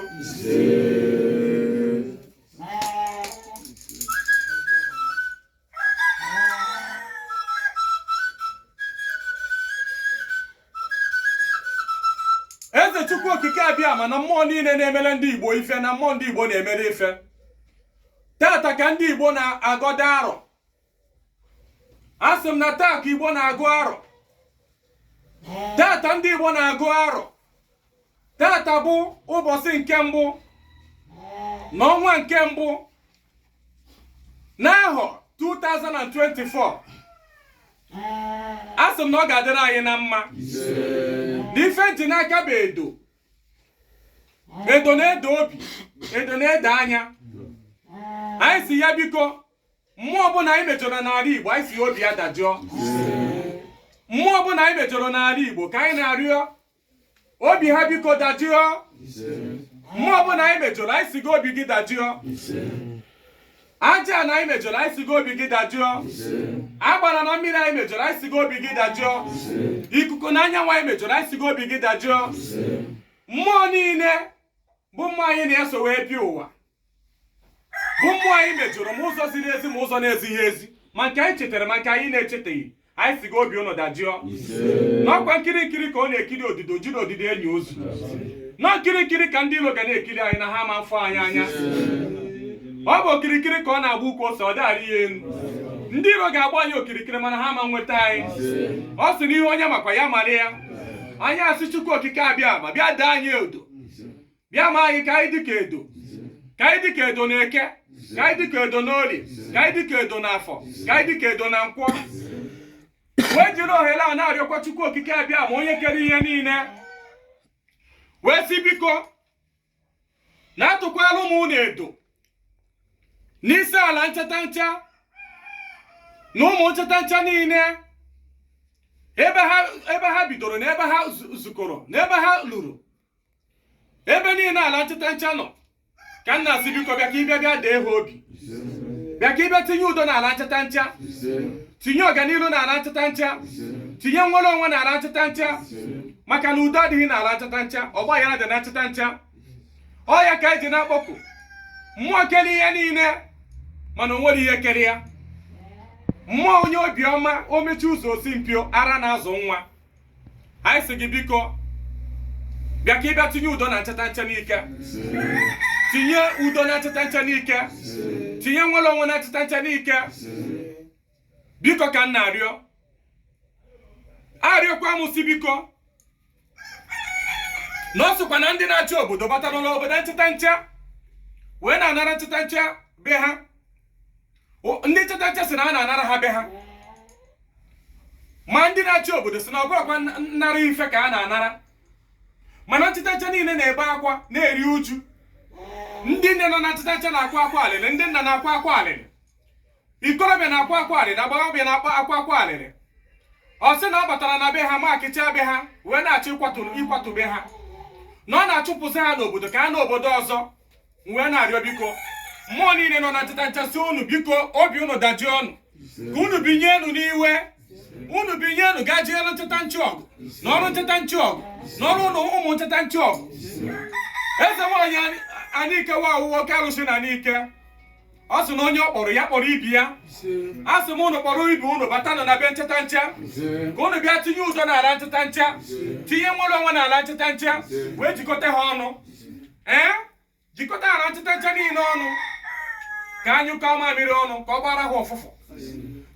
eze chukwu okike abịama na mmụọ niile na-emere ndị igbo ife na mmụọ ndị igbo na-emere ife tata ka ndị igbo na-agọda arọ asị m na taa ka igbo na-agụ arọ tata ndị igbo na-agụ arọ tata bụ ụbọchị nke mbụ na ọnwa nke mbụ n'ahọ 2024 a sị m na ọ ga-adịrị anyị na mma na ife m ji n'aka bụ edo edo na-edo obi edo na-edo anya anyị sị ya biko mmụọ ọbụla anyị mejọrọ n'ala igbo anyị sị ya obi ya dajụọ mmụọ ọbụla anyị mejọrọ n'ala igbo ka anyị na-arịọ obi ha biko dajụọ mmụọ ọbụla anyị mejọrọ anyị si gị obi gị dajụọ ajana anyị mejọrọ anyị si gị obi gị dajụọ agbara na mmiri anyị mejọrọ anyị si gị obi gị dajụọ ikuku na anyanwụ anyị mejọrọ anyị si gị obi gị dajụọ mmụọ niile bụ mmụọ anyị na-eso wee bịa ụwa bụ mmụọ anyị mejọrọ ma ụzọ ziri ezi ma ụzọ na-ezighị ezi ma nke anyị chetara ma nke anyị na-echeteghị anyị si gị obi ụnụ dajụọ n'ọkwa nkiri nkiri ka ọ na-ekiri ododo ejirọ ododo eni ozu na ọ nkiri nkiri ka ndị iro ga na-ekiri anyị na ha ama mfụ anyị anya ọ bụ okirikiri ka ọ na-agba ukwu ose a dịghị arị ya elu ndị iro ga-agba anyị okirikiri mana ha ama nweta anyị ọ sị na ihe onye makwa ya mara ya anyị asị chukwu okike abịama bịa daa anyị odo bịa ma anyị ka anyị dịka edo ka anyị dịka edo na eke ka anyị dịka edo na orie ka anyị dịka edo na afọ ka anyị dịka edo na nkwọ wee jiri ohere a na-arịọkwa chukwu okike abịama onye kere ihe niile wee si biko na atụkwala ụmụ unu edo n'isi ala nchatancha na ụmụ nchatancha niile ebe ha bidoro na ebe ha zukọrọ na ebe ha luru ebe niile ala nchatancha nọ ka m na-asị biko bịa ka ị bịa bịa dee ha obi bịa ka ị bịa tinye udo n'ala nchatancha tinye ọganihu n'ala nchatancha tinye nnwere onwe n'ala nchatancha maka na udo adịghị n'ala nchatancha ọgba aghara dị na nchatancha ọ ya ka eji na-akpọku mmụọ kere ihe niile mana o nwerọ ihe kere ya mmụọ onye obiọma o mechie ụzọ o si mpio ara na-azụ nwa anyị si gị biko bịa ka ị bịa tinye udo na nchatancha nike tinye udo na nchatancha nike tinye nnwere onwe na nchatancha nike biko ka m na-arịọ arịọkwa m si biko na ọ sịkwa na ndị na-achị obodo batara n'obodo nchatancha wee na-anara nchatancha be ha ndị nchatancha si na a na-anara ha be ha ma ndị na-achị obodo si na ọ bụrọkwa nnara ife ka a na-anara mana nchatancha niile na-ebe akwa na-eri uju ndị nne nọ na nchatancha na-akwa akwa alịrị ndị nna na-akwa akwa alịrị ikorobịa na-akwa akwa alịrị agbọghọbịa na-akwa akwa alịrị ọ sị na ọ batara na be ha maakịcha be ha wee na-achọ ịkwatu be ha na ọ na-achụpụsị ha n'obodo ka ha naa obodo ọzọ m wee na-arịọ biko mmụọ niile nọ na nchatancha sị unu biko obi unu dajụọnụ ka unu binye enu n'iwe unu binye enu ga jeelu nchatancha ọgụ nụọrụ nchatancha ọgụ nụọrụ ụmụ nchatancha ọgụ eze nwaanyị anịke wa awụwa oke arụsị na nike ọ sị na onye ọ kpọrọ ya kpọrọ ibe ya a sị m unu kpọrọ ibe unu batanụ na be nchatancha ka unu bịa tinye udo n'ala nchatancha tinye nwere onwe n'ala nchatancha wee jikọta ha ọnụ ee jikọta ala nchatancha niile ọnụ ka a nyụkọọ mamịrị ọnụ ka ọ gbara ha ụfụfụ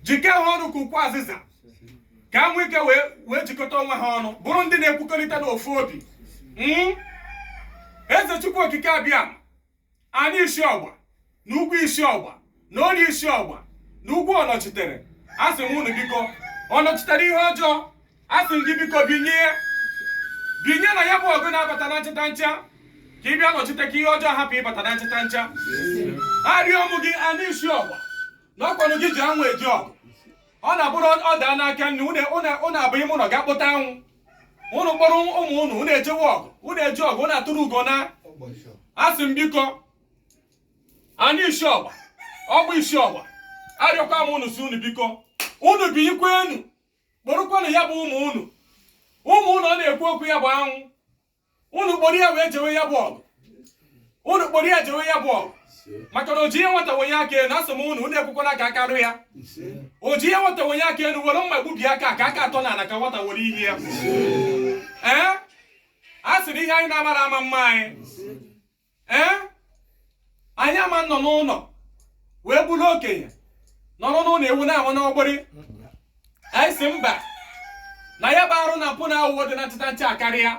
jike ha ọnụ ka ukwu azịza ka ha nwee ike wee jikọta onwe ha ọnụ bụrụ ndị na-ekwukọrịta n'ofu obi hmm? eze chukwu okike abịama anị isi ọgba na ugwu isi ọgba na ori isi ọgba na ugwu ọnọchitere asị m unu biko ọnọchitere ihe ọjọọ asị m gị biko binye binye na ya bụ ọgụ na-abata na nchatancha ka ị bịa nọchite ka ihe ọjọọ hapụ ịbata na nchatancha arịọ m gị anị isi ọgba na ọkwanụ gị ji anwụ eje ọgụ ọ na-abụrụ ọ daa n'aka nne ụnụ abụ ime ụlọ ga-akpụta anwụ ụnụ kpọrọ ụmụ ụnụ ụnụ ejewe ọgụ ụnụ eje ọgụ ụnụ atụrụ ugo na asị m biko anị isi ọgba ọgba isi ọgba arịọkwa m unu si unu biko unu binyekwa enu kpọrọkwanụ ya bụ ụmụ unu ụmụ unu ọ na-ekwu okwu ya bụ anwụ unu kpọrọ ya wee jewe ya bụ ọgụ unu kpọrọ ya jewe ya bụ ọgụ maka na o ji ihe nwata wenye aka enu asị m unu unu ekwekwala ka aka rụ ya o ji ihe nwata wenye aka enu were mma gbubie aka ka aka atọ n'ala ka nwata were ihe ya ee a sịrị ihe anyị na-amara ama mma anyị ee anyị ama nọ n'ụlọ wee bụrụ okenye nọrọ n'ụlọ ewu na-amụ n'ọgbụrị anyị si mba na ya bụ arụ na mpụ na aghụghọ dị na nchatancha akarịa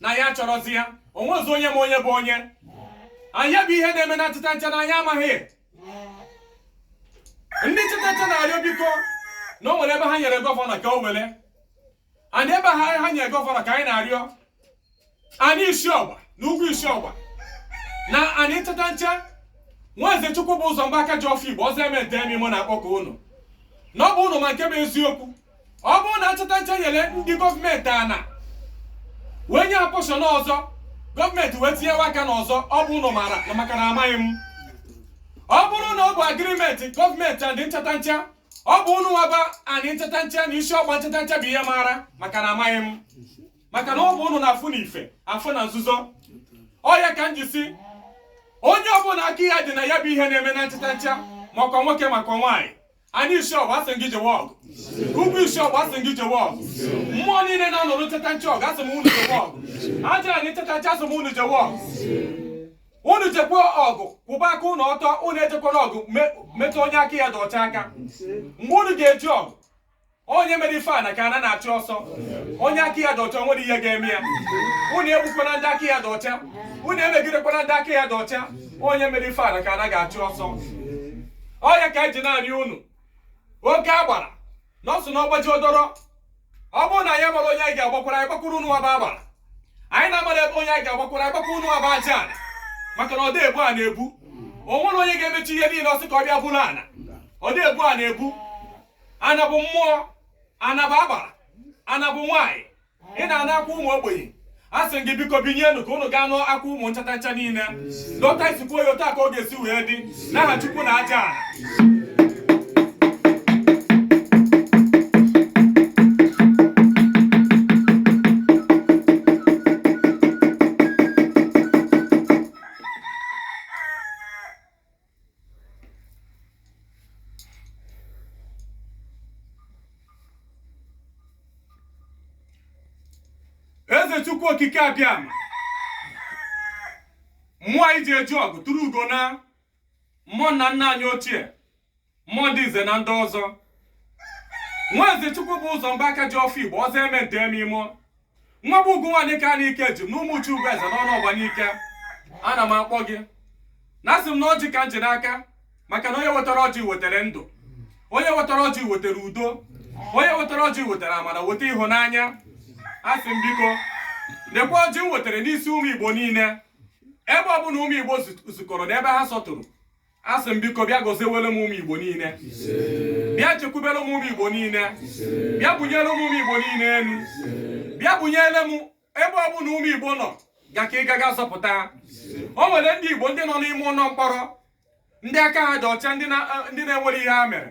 na ya chọrọzi ya o nwezi onye ma onye bụ onye ya bụ ihe na-eme na nchatancha na anyị amaghị ndị nchatancha na-arịọ biko na o nwere ebe ha nyere gọvanọ ka o were and ebe ha ha nyere gọvanọ ka anyị na-arịọ anị isi ọgba na ugwu isi ọgba na anị nchatancha nwaeze chukwu bụ ụzọ mgba aka ji ọfọ igbo ọzọ eme nta eme imo na-akpọku unu na ọ bụ unu ma nke bụ eziokwu ọ bụrụ na nchatancha nyere ndị gọọmenti ana wee nye ha pọshọn ọzọ gọọmenti wee tinyewa aka n'ọzọ ọ bụ unu maara na maka na amaghị m ọ bụrụ na ọ bụ agrimenti gọọmenti and nchatancha ọ bụ ụnụ nwa bụ anị nchatancha na isi ọgba nchatancha bụ ihe maara maka na amaghị m maka na ọ bụ ụnụ na-afụ na ife afụ na nzuzo ọ ya ka m ji si onye ọbụla aka ya dị na ya bụ ihe na-eme na nchatancha makwa nwoke makwa nwaanyị anị isi ọgba asị gị jewe ọgụ ugwu isi ọgba asị gị jewe ọgụ mmụọ niile na-anụrụ nchatancha ọgụ asị m unu jewe ọgụ aja anị nchatancha asị m unu jewe ọgụ unu jekwa ọgụ kwụba aka unu ọtọ unu ejekwala ọgụ metụ onye aka ya dị ọcha aka mgbe unu ga-eje ọgụ onye mere ife ana ka ana na-achụ ọsọ onye aka ya dị ọcha nwere ihe ga-eme ya unu egbukwana ndị aka ya dị ọcha unu emegidekwana ndị aka ya dị ọcha onye mere ife ana ka ana ga-achụ ọsọ ọ ya ka anyị ji na-arịọ unu oke agbara nọọsụ na ọgbaji odoro ọ bụrụ na anyị mara onye anyị ga-agbakwara anyị gbakwuru unuwa bụ agbara anyị na-amara ebe onye anyị ga-agbakwara anyị gbakwuru unuwa bụ aja ana maka na ọ dị ebu ana ebu o nwere onye ga-emecha ihe niile ọ sị ka ọ bịa buru ana ọ dị ebu ana ebu ana bụ mmụọ ana bụ agbara ana bụ nwaanyị ị na-anụ akwa ụmụ ogbenye asị m gị biko binyenụ ka ụnụ gaa nụ akwa ụmụ nchata ncha niile dọta isikwu ya otu a ka ọ ga-esi wee dị n'aha Chukwu na aja eze chukwu okike abịama mmụọ anyị ji eje ọgụ tụrụ ugo na mmụọ nna nna anyị ochie mmụọ ndị nze na ndị ọzọ nwa eze Chukwubụzọ Mba aka ji ọfọ igbo ọzọ eme nta eme imo nwa bụ ugwu nwaanyị ka n'ike ji m na ụmụ uchu ugwu eze n'Ọnụọgba Nike ana m akpọ gị na asị m na ọjị ka m ji n'aka maka na onye wetara ọjị wetara ndụ onye wetara ọjị wetara udo onye wetara ọjị wetara amara weta ịhụnanya asị m biko lekwa ọjị m wetara n'isi ụmụ igbo niile ebe ọbụla ụmụ igbo zukọrọ n'ebe ha sọtụrụ asị m biko bịa gọziwere m ụmụ igbo niile bịa chekwubere m ụmụ igbo niile bịa bunyere m ụmụ igbo niile elu bịa bunyere m ebe ọ bụla ụmụ igbo nọ ga ka ị gaga zọpụta o nwere ndị igbo ndị nọ n'ime ụlọ mkpọrọ ndị aka ha dị ọcha ndị na-enwere ihe ha mere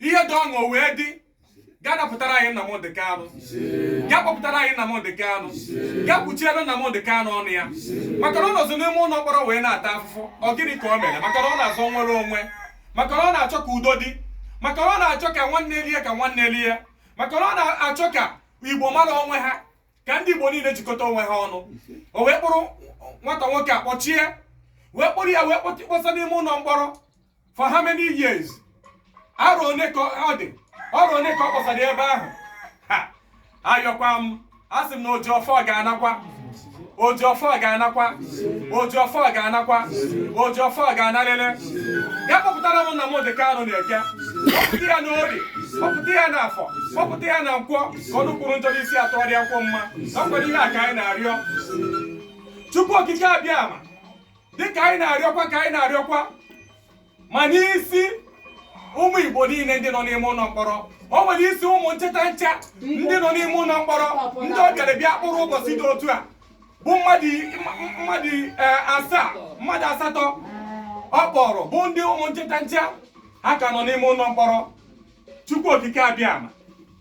ihe dị ọṅụ wee dị ga napụtara anyị Nnamdị Kanụ ga kpọpụtara anyị Nnamdị Kanụ ga kpuchiere Nnamdị Kanụ ọnụ ya maka na ọ nọzi n'ime ụlọ mkpọrọ wee na-ata afụfụ ọ gịnị ka o mere maka na ọ na-azọ nwere onwe maka na ọ na-achọ ka udo dị maka na ọ na-achọ ka nwanne lie ka nwanne lie maka na ọ na-achọ ka igbo mara onwe ha ka ndị igbo niile jikọta onwe ha ọnụ o wee kpụrụ nwata nwoke a kpọchie wee kpụrụ ya wee kpọsa n'ime ụlọ mkpọrọ for how many years arọ one ka ọ dị arọ one ka ọ kpọsara ebe ahụ ayọkwa m asị m na oji ọfọ ga-anakwa oji ọfọ ga-anakwa oji ọfọ ga-anakwa oji ọfọ ga-analịlị ga kpọpụtara m Nnamdị Kanụ na eke kpọpụta ya na orie kpọpụta ya na afọ kpọpụta ya na nkwọ ka ọnụ kwuru njọ n'isi a tụgharịa kwuo mma ọ kwa ihe a ka anyị na-arịọ chukwu okike abịama dịka anyị na-arịọkwa ka anyị na-arịọkwa ma n'isi ụmụ Igbo niile ndị nọ n'ime ụlọ mkpọrọ o nwere isi ụmụ ncheta ncha ndị nọ n'ime ụlọ mkpọrọ ndị ọ bịara bịa kpụrụ ụbọchị dị otu a bụ mmadụ asatọ ọ kpọrọ bụ ndị ụmụ ncheta ncha ha ka nọ n'ime ụlọ mkpọrọ Chukwu Okike Abịama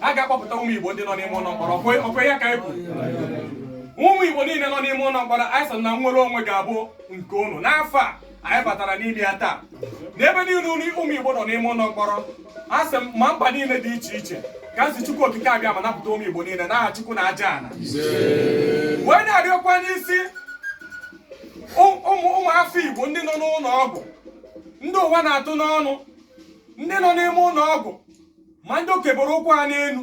a ga-akpọpụta ụmụ Igbo ndị nọ n'ime ụlọ mkpọrọ ọ kwa ya ka anyị kwuru ụmụ Igbo niile nọ n'ime ụlọ mkpọrọ anyị sị na nnwere onwe ga-abụ nke unu n'afọ a anyị batara n'ime ya taa n'ebe niile unu ụmụ Igbo nọ n'ime ụlọ mkpọrọ asị m ma mba niile dị iche iche ka m sị Chukwu Okike Abịama napụta ụmụ Igbo niile n'aha Chukwu na aja ana wee na-arịọkwa n'isi ụmụ afọ Igbo ndị nọ n'ụlọ ọgwụ ndị ụwa na-atụ n'ọnụ ndị nọ n'ime ụlọ ọgwụ ma ndị okeboro ụkwụ ha n'elu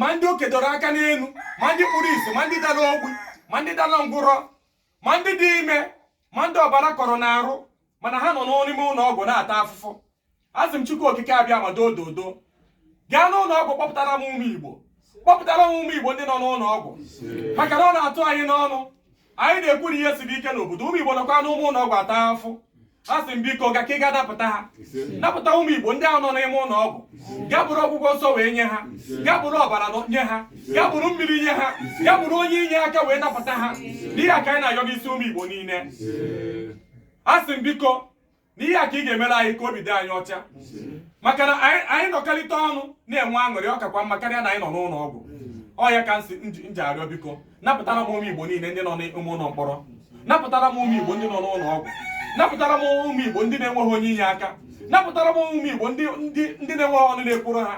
ma ndị okedoro aka n'elu ma ndị kpuru isi ma ndị dara ogbi ma ndị dara ngwụrọ ma ndị dị ime ma ndị ọbara kọrọ n'arụ mana ha nọ n'ime ụlọ ọgwụ na-ata afụfụ asị m Chukwu Okike Abịama doo dodo gaa n'ụlọ ọgwụ kpọpụtara m ụmụ Igbo kpọpụtara m ụmụ Igbo ndị nọ n'ụlọ ọgwụ maka na ọ na-atụ anyị n'ọnụ anyị na-ekwu na ihe siri ike n'obodo ụmụ Igbo nọkwa n'ụmụ ụlọ ọgwụ ata afụ asị m biko gaa ka ị gaa napụta ha napụta ụmụ Igbo ndị ahụ nọ n'ime ụlọ ọgwụ gaa bụrụ ọgwụgwọ nsọ wee nye ha gaa bụrụ ọbara nye ha gaa bụrụ mmiri nye ha gaa bụrụ onye inyeaka wee napụta ha n'ihe a ka anyị na-ayọ n'isi ụmụ Igbo niile asị m biko n'ihe a ka ị ga-emere anyị ka obi dị anyị ọcha maka na anyị nọkọrịta ọnụ na-enwe aṅụrị ọ kakwa mma karịa na anyị nọ n'ụlọ ọgwụ ọ ya ka m ji arịọ biko napụtara m ụmụ igbo niile ndị nọ n'ime ụlọ mkpọrọ napụtara m ụmụ igbo ndị nọ n'ụlọ ọgwụ napụtara m ụmụ igbo ndị na-enweghị onye inyeaka napụtara m ụmụ igbo ndị na-enweghị ọnụ na-ekwuru ha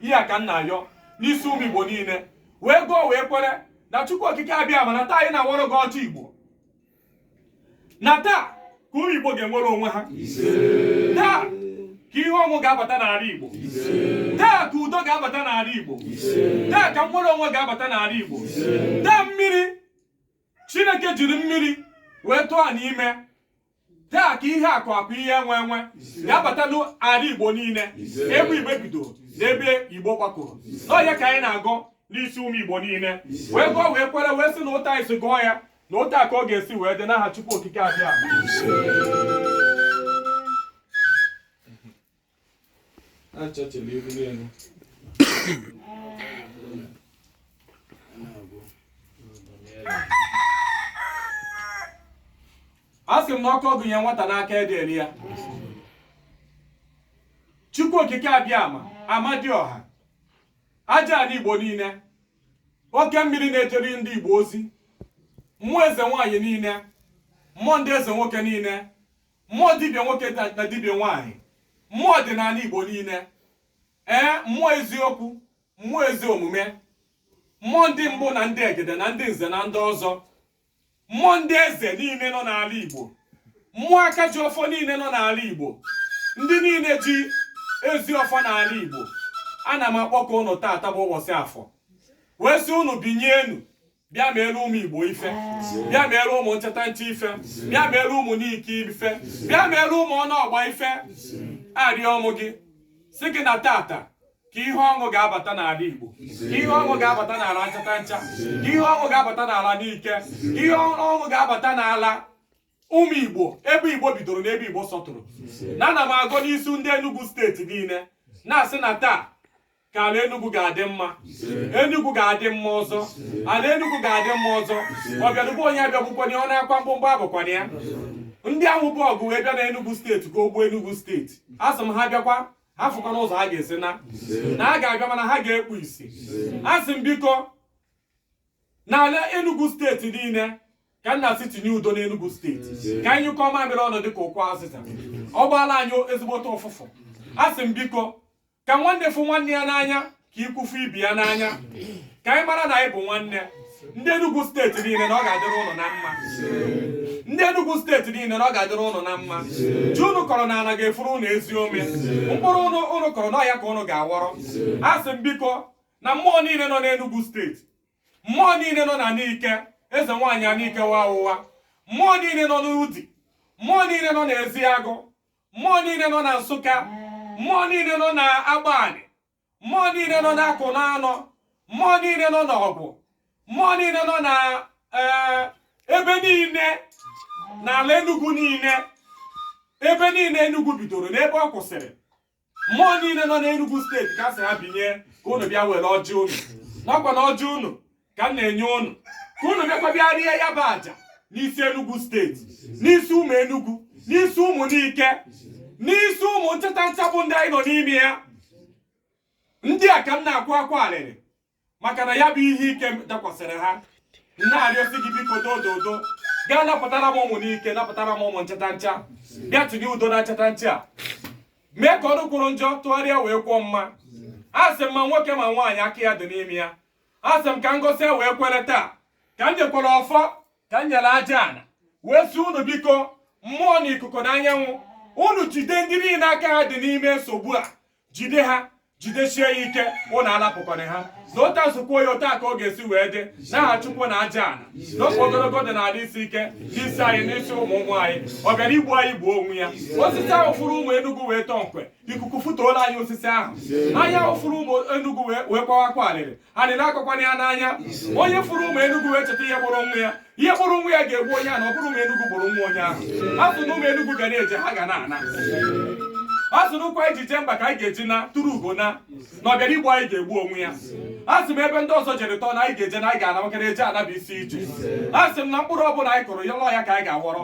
ihe a ka m na-ayọ n'isi ụmụ igbo niile wee gọọ wee kwere na Chukwu Okike Abịama na taa anyị na-awọrọ gị ọjị Igbo na taa ka ụmụ Igbo ga-enwere onwe ha taa ka ihe ọṅụ ga-abata n'ala Igbo taa ka udo ga-abata n'ala Igbo taa ka nnwere onwe ga-abata n'ala Igbo taa mmiri Chineke jiri mmiri wee tụọ n'ime taa ka ihe akụ akụ ihe enwe enwe ga-abata n'ala Igbo niile ebe Igbo bido na ebe Igbo gbakọrọ na ọ ya ka anyị na-agọ n'isi ụmụ Igbo niile wee gọọ wee kwere wee sị na otu anyị si gọọ ya na otu a ka ọ ga-esi wee dị n'aha Chukwu Okike Abịama asị m na ọkụ a gụnye nwata n'aka adị eri ya Chukwu Okike Abịama Amadioha aja ala Igbo niile oke mmiri na-ejere ndị Igbo ozi mmụọ eze nwaanyị niile mmụọ ndị eze nwoke niile mmụọ dibịa nwoke na dibịa nwaanyị mmụọ ọdịnala Igbo niile ee mmụọ eziokwu mmụọ ezi omume mmụọ ndị mbụ na ndị egede na ndị nze na ndị ọzọ mmụọ ndị eze niile nọ n'ala Igbo mmụọ aka ji ọfọ niile nọ n'ala Igbo ndị niile ji ezi ọfọ n'ala Igbo ana m akpọkọ ụnụ taata bụ ụbọchị afọ wee sị ụnụ binye enu bịa meere ụmụ Igbo ife bịa meere ụmụ Nchatancha ife bịa meere ụmụ Nike ife bịa meere ụmụ Ọnụọgba ife arịọ mụ gị sị gị na tata ka ihe ọṅụ ga-abata n'ala Igbo ka ihe ọṅụ ga-abata n'ala Nchatancha ka ihe ọṅụ ga-abata n'ala Nike ka ihe ọṅụ ga-abata n'ala ụmụ Igbo ebe Igbo bidoro na ebe Igbo sọtụrụ na ana m agọ n'isi ndị Enugu steeti niile na-asị na taa ka ala Enugu ga-adị mma Enugu ga-adị mma ọzọ ala Enugu ga-adị mma ọzọ ọbịalụ be onye abịagbukwana ọ nakwa mkpumkpu apụkwana ya ndị ahụ bu ọgụ wee bịa na Enugu steeti ka o gbuo Enugu steeti asị m ha bịakwa ha afụkwana ụzọ ha ga-esi na na ha ga-abịa mana ha ga-ekpu isi asị m biko n'ala Enugu steeti niile ka m na-asị tinye udo n'Enugu steeti ka anyị nyụkọ mamịrị ọnụ dịka ukwu azịza ọ gbaala anyị ezigbote ụfụfụ asị m biko ka nwanne fụ nwanne ya n'anya ka ikwu fụ ibe ya n'anya ka anyị mara na anyị bụ nwanne ndị Enugu steeti niile na ọ ga-adịrị ụnụ na mma ndị Enugu steeti niile na ọ ga-adịrị ụnụ na mma ji ụnụ kọrọ na ala ga-efuru ụnụ ezi ome mkpụrụ ụnụ kọrọ na ọhịa ka ụnụ ga-awọrọ asị m biko na mmụọ niile nọ n'Enugu steeti mmụọ niile nọ na Nike eze nwaanyị Anike Nwaụwa mmụọ niile nọ n'Udi mmụọ niile nọ n'Eziagụ mmụọ niile nọ na Nsụka mmụọ niile nọ na Agbani mmụọ niile nọ n'Ọkụnanọ mmụọ niile nọ n'Ọgwụ mmụọ niile nọ na eh, ebe niile n'ala Enugu niile ebe niile Enugu bidoro na ebe ọ kwụsịrị mmụọ niile nọ n'Enugu steeti ka sị ha binye ka unu bịa were ọjị unu na ọ kwa na ọjị unu ka m na-enye ụnụ ka ụnụ bịakwa bịa rie ya bụ aja n'isi Enugu steeti n'isi ụmụ Enugu n'isi ụmụ Nike n'isi ụmụ Nchatancha bụ ndị anyị nọ n'ime ya ndị a ka m na-akwa akwa alịrị maka na ya bụ ihe ike dakwasịrị ha na-arịọsi gị biko dododo gaa napụtara m ụmụ Nike napụtara m ụmụ Nchatancha bịa tinye udo na Nchatancha mee ka ọnụ kwuru njọ tụgharịa wee kwuo mma asị m ma nwoke ma nwaanyị aka ya dị n'ime ya a sị m ka m gọsịa wee kwere taa ka m nyekwara ọfọ ka m nyere aja ana wee sị unu biko mmụọ na ikuku na anyanwụ unu jide ndị niile aka ha dị n'ime nsogbu a jide ha jidesie ha ike unu alapụkwana ha na otu a m si kwuo ya otu a ka ọ ga-esi wee dị n'aha chukwu na aja ana n'ọfọ ogologo dị n'ala isi ike n'isi anyị n'isi ụmụ ụmụ anyị ọ bịara igbu anyị gbuo onwe ya osisi ahụ fụrụ ụmụ Enugu wee tọọ nkwe ikuku fụtuo n'ala ya osisi ahụ anya ahụ fụrụ ụmụ Enugu wee kwawa akwa alịrị alịrị akọkwana ya n'anya onye fụrụ ụmụ Enugu wee cheta ihe gburu nwa ya ihe gburu nwa ya ga-egbu onye ahụ na ọ bụrọ ụmụ Enugu gburu nwa onye ahụ a sị na ụmụ Enugu ga na-eje ha ga na-ana a sị na ụkwụ anyị ji jee mba ka anyị ga-eji naa turu ugo naa na ọ bịara igbu anyị ga-egbu onwe ya a sị m ebe ndị ọzọ jere tọọ na anyị ga-eje na anyị ga-ana maka na eje ana bụ isi ije a sị m na mkpụrụ ọbụla anyị kụrụ n'ala ya ka anyị ga-aghọrọ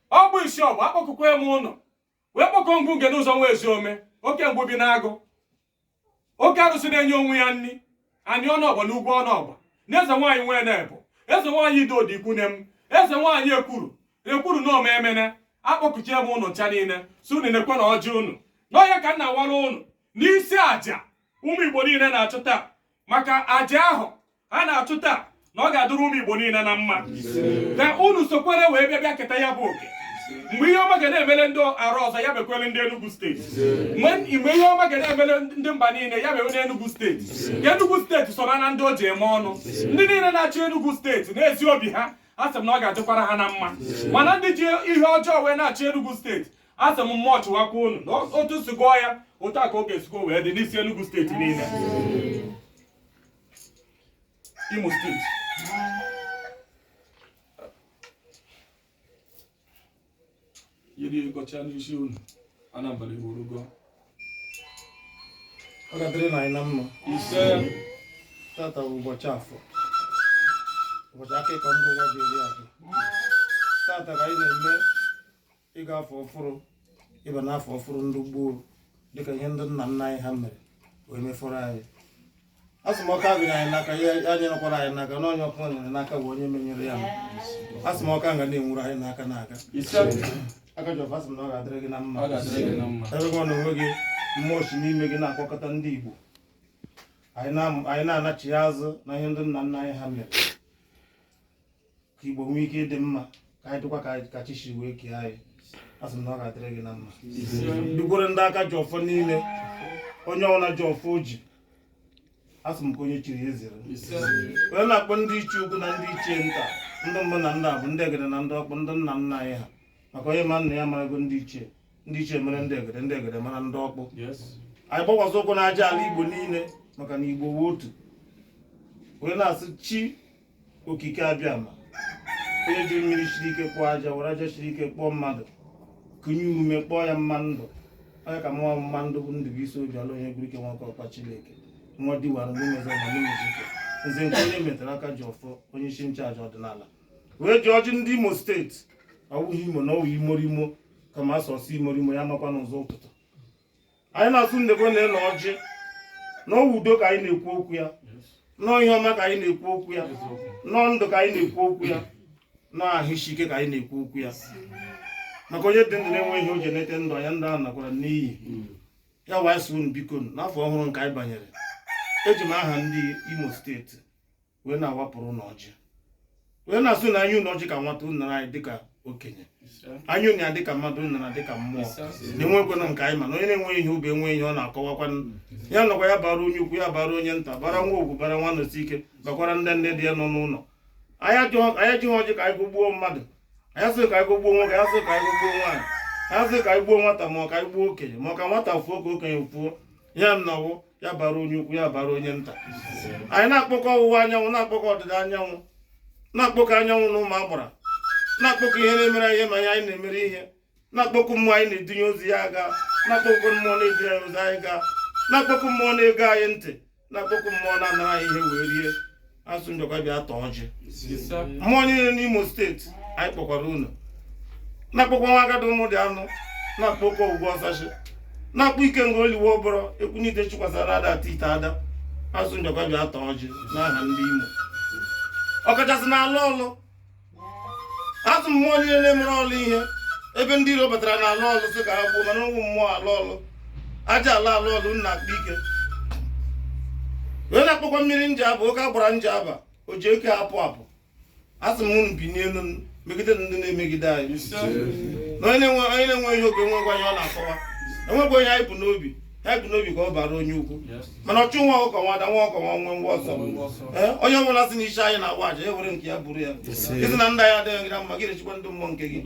ọ bụ isi ọgba akpọkukwe m unu wee kpọkuo ngwu nge n'ụzọ nwa ezi ome oke ngwu bi n'agụ oke arụsị na-enye onwe ya nri Ani Ọnụọgba na Ugwu Ọnụọgba na eze nwaanyị nwee na-ebụ eze nwaanyị Idodo ikwu nne m eze nwaanyị Ekulu Ekulu na ome Emene akpọkuchaa m unu ncha niile sị unu nekwe na ọjị unu n'ọhịa ka m na-awara unu n'isi aja ụmụ Igbo niile na-achụ taa maka aja ahụ a na-achụ taa na ọ ga-adịrị ụmụ Igbo niile na mma ka unu sokwere wee bịa bịa keta ya bụ oke mgbe ihe ọma ga na-emele ndị arụ ọzọ ya mekwere ndị Enugu steeti mgbe ihe ọma ga na-emele ndị mba niile ya mewe n'Enugu steeti ka Enugu steeti soro na ndị e ji eme ọnụ ndị niile na-achị Enugu steeti n'ezi obi ha a sị m na ọ ga-adịkwara ha na mma mana ndị ji ihe ọjọọ wee na-achị Enugu steeti a sị m mmụọ chụwakwa unu na otu m si gọọ ya otu a ka ọ ga-esikwa wee dị n'isi Enugu steeti niile Imo steeti yiri gọcha n'isi unu Anambra iwurugo ọ ga-adịrị na anyị na mma ise tata bụ ụbọchị afọ ụbọchị akụkọ ndị ụwa ji eri afọ tata ka anyị na-eme ịga afọ ọfụrụ ịba n'afọ ọfụrụ ndị gboo dịka ihe ndị nna nna anyị ha mere wee mefọrọ anyị asị m ọkụ a gụnyere anyị n'aka ya anyụkwara anyị n'aka na onye ọkụ nyụrụ n'aka bụ onye menyụrụ ya asị m ọkụ a ga na-enwuru anyị n'aka n'aka Akajiọfọ asị m na ọ ga-adịrị gị na mma ebe gị na onwe gị mmụọ si n'ime gị na-akpọkọta ndị Igbo anyị na- anyị na-anachigha azụ na ihe ndị nna nna anyị ha mere ka igbo nwee ike ịdị mma ka anyị dịkwa ka ka chi si wee kee anyị asị m na ọ ga-adịrị gị na mma dịkwara ndị aka ji ọfọ niile onye ọbụla ji ọfọ o ji asị m ka onye chiri ya ezere anyị na-akpọ ndị ichie ukwu na ndị ichie nta ndị mbụ na ndị abụọ ndị egede na ndị ọkpụ ndị nna nna anyị ha maka onye ma nna ya marago ndị ichie ndị ichie mara ndị egede ndị egede mara ndị ọkpụ anyị gbakwasị ụkwụ n'aja ala igbo niile maka na igbo wụ otu onye na-asị chi okike abịama onye jiri mmiri siri ike kpụọ aja were aja siri ike kpụọ mmadụ kụnye ume kpọọ ya mma ndụ onye ka mụnwa mma ndụ bụ ndụ bụ isi obi ala onye gwuru ike nwoke ọkwa chineke nwa diwara ndị mezọ na ndị mezike nze nke onye metara aka ji ọfọ onye isi nchụaja ọdịnala wee ji ọjị ndị imo steeti ọwụghị imo na ọwụ imorimo kama asọsọ imorimo ya makwa n'ụzọ ụtụtụ anyị na-atụnye ego n'enu ọjị na ọwụ udo ka anyị na-ekwu okwu ya na ọ ihe ọma ka anyị na-ekwu okwu ya na ọ ndụ ka anyị na-ekwu okwu ya na ọ ahụ isi ike ka anyị na-ekwu okwu ya maka onye dị ndụ na-enweghị ihe o ji eleta ndụ anya ndụ ahụ nakwara n'iyi ya wee sị unu biko n'afọ ọhụrụ nke anyị banyere eji m aha ndị Imo steeti wee na-awapụrụ unu ọjị wee na-asị na anyị nye unu ọjị ka nwata unu nara anyị dịka okenye anyị nye unu ya dịka mmadụ unu nara dịka mmụọ na enwekwanụ nke anyị ma na onye na-enweghị ihe o bu enweghị ihe ọ na-akụwakwa ya nọkwa ya bara onye ukwu ya bara onye nta bara nwaogwugwu bara nwanọsike bakwara ndị nne di ya nọ n'ụlọ anyị ejighị ọjị ka anyị gọgbuo mmadụ anyị asịghị ka anyị gọgbuo nwoke anyị asịghị ka anyị gọgbuo nwaanyị anyị asịghị ka anyị gbuo nwata ma ọ ka anyị gbuo okenye ma ọ ka nwata fuo ka okenye fuo ya na ọwụ ya bara onye ukwu ya bara onye nta anyị na-akpọku ọwụwa anyanwụ na-akpọku ọdịda anyanwụ na-akpọku anyanwụ na ụmụ agbara na-akpọku ihe na-emere ihe ma ihe anyị na-emere ihe na-akpọku mmụọ anyị na-edunye ozi ya aga na-akpọku mmụọ na-edunye anyị ozi anyị gaa na-akpọku mmụọ na-ege anyị ntị na-akpọku mmụọ na-anara anyị ihe wee rie asị unu bịakwa bịa taa ọjị mmụọ niile n'imo steeti anyị kpọkwara unu na-akpọkwa nwa agadi ụmụ dị anụ na-akpọkwa ogwugwu ọsachi na-akpọ ikenga oliwe ọbụrụ ekwunite chikwasara ada ata ite ada asị unu bịakwa bịa taa ọjị n'aha ndị imo ọkachasị na ala ọlụ asị m mmụọ niile na-emere ọlụ ihe ebe ndị iro batara na ala ọlụ sị ka ha gbuo mana ụmụ mmụọ ala ọlụ aja ala ala ọlụ nna akpa ike wee na-akpọkwa mmiri njaba oke agbara njaba o ji eke apụ apụ asị m unu binie elu megide ndị na-emegide anyị na onye na-enwe ihe o bu enwekwa ihe ọ na-akụwa enwekwa ihe anyị bu n'obi ha bụ n'obi ka ọ bara onye ukwu mana ọchụ nwa ọkụkọ nwe ada nwa ọkụkọ nwe nwenwe ọsọ onye ọbụla si n'isi anyị na-agba aja e were nke ya bụrụ ya ị sị na ndụ anyị adịghị gị mma gị rechikwa ndị mmụọ nke gị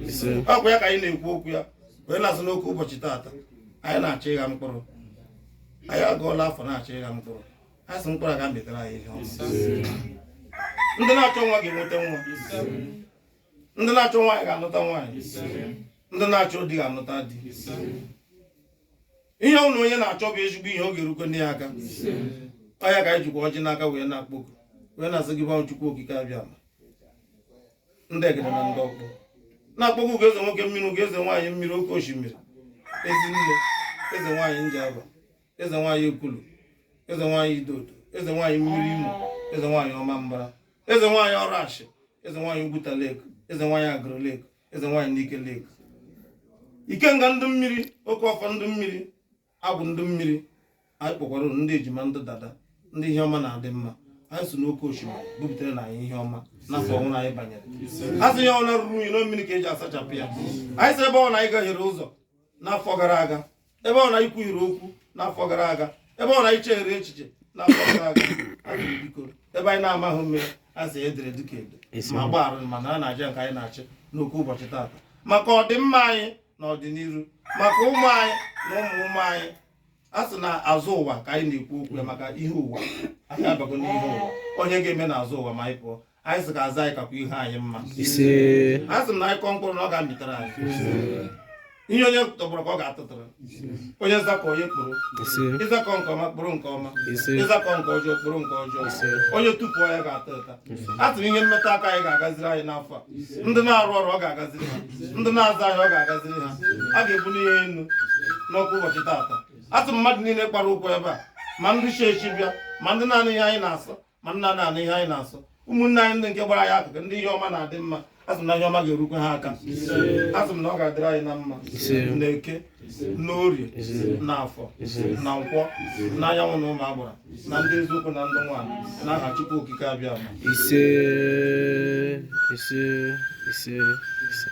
ọ kwa ya ka anyị na-ekwu okwu ya wee na-asị n'oke ụbọchị taata anyị na-achọ ịgha mkpụrụ anyị agụọla afọ na-achọ ịgha mkpụrụ a sị mkpụrụ a ga-amịtara anyị ihe ndị na-achọ nwa ga-enweta nwa ndị na-achọ nwaanyị ga-anụta nwaanyị ndị na-achọ di ga-anụta di ihe ọ bụla onye na-achọ bụ ezigbo ihe ọ ga-erukwanụ ya aka ọ ya ka anyị jikwa ọjị n'aka wee na-akpọku wee na-asị gị bụ chukwu okike abịama ndị egede na ndị ọkpụ na-akpọku gị eze nwoke mmiri gị eze nwaanyị mmiri oke osimiri ezi nne eze nwaanyị njaba eze nwaanyị ekulu eze nwaanyị idodo eze nwaanyị mmiri imo eze nwaanyị ọmambara eze nwaanyị ọrashị eze nwaanyị ugwuta lake eze nwaanyị agụlụ lake eze nwaanyị nike lake ikenga ndị mmiri oke ọfọ ndị mmiri agwụ ndị mmiri anyị kpọkwara unu ndị ejima ndị dada ndị ihe ọma na-adị mma anyị sị unu oke osimiri bubataranụ anyị ihe ọma n'afọ ọhụrụ anyị banyere a sị ihe ọbụla ruru unyi na mmiri ka e ji asachapụ ya anyị sị ebe ọbụna anyị gahiere ụzọ n'afọ gara aga ebe ọbụna anyị kwuhiere okwu n'afọ gara aga ebe ọbụna anyị chehiere echiche n'afọ gara aga anyị sị biko ebe anyị na-amaghị mee a sị edere dịka edo ma gbaghara ma nara aja nke anyị na-achụ n'oke ụbọchị taata maka ọdịmma anyị na ọdịnihu maka ụmụ anyị na ụmụ ụmụ anyị a sị na azụ ụwa ka anyị na-ekwu okwu ya maka ihu ụwa anyị abago n'ihu ụwa onye ga-eme na azụ ụwa ma anyị pụọ anyị sị ka azụ anyị kakwa ihu anyị mma ise a sị m na anyị kọọ mkpụrụ na ọ ga-amịtara anyị ihe onye tọgbọrọ ka ọ ga-atụtara onye zakọọ onye kporo ise ị zakọọ nke ọma kporo nke ọma ise ị zakọọ nke ọjọọ kporo nke ọjọọ ise onye tupu ya ga-ata ụta a sị m ihe mmeta aka anyị ga-agaziri anyị n'afọ a ndị na-arụ ọrụ ọ ga-agaziri ha ndị na-azụ ahịa ọ ga-agaziri ha a ga-ebuni ha enu n'oke ụbọchị taata a sị m mmadụ niile kpara ụkwụ ebe a ma ndị chi echi bịa ma ndị na-anụ ihe anyị na-asụ ma ndị anaghị anụ ihe anyị na-asụ ụmụnne anyị ndị nke gbara anyị akụkụ ndị ihe ọma na-adị mma a sị m na ihe ọma ga-erukwa ha aka a sị m na ọ ga-adịrị anyị na mma na eke na orie na afọ na nkwọ na anyanwụ na ụmụ agbara na ndị eziokwu na ndị nwaanyị na aha chukwu okike abịama ise ise ise ise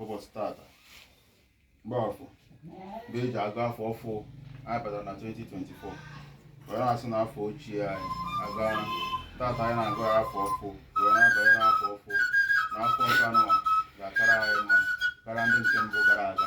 ụbọchị tata mgbe afọ mgbe e ji agụ afọ ọfụ anyị batara na 2024 wee na-asị na afọ ochie anyị aga tata anyị na-agụ ya afọ ọfụ wee na-abanye n'afọ ọfụ na afọ nke anụwa ga-akara anyị mma karịa ndị nke mbụ gara aga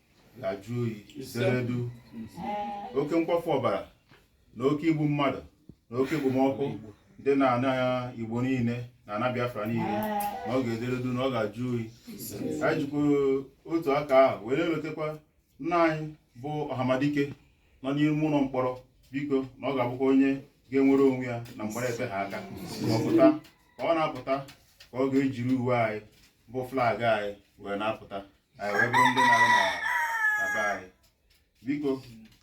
ga-ajụ oyi deredu oke nkwafu ọbara na oke igbu mmadụ na oke ekpomọkụ dị na ana igbo niile na ana biafra niile na ọ ga-ederedu na ọ ga-ajụ oyi anyị jikwa otu aka ahụ were wetakwa nna anyị bụ ọhamadike nọ n'ime ụlọ mkpọrọ biko na ọ ga-abụkwa onye ga-enwere onwe ya na mkpọrọ efe ha aka ma ọ pụta ka ọ na-apụta ka ọ ga-ejiri uwe anyị bụ flag anyị wee na-apụta anyị wee bụrụ ndị na-arụ na na be anyị biko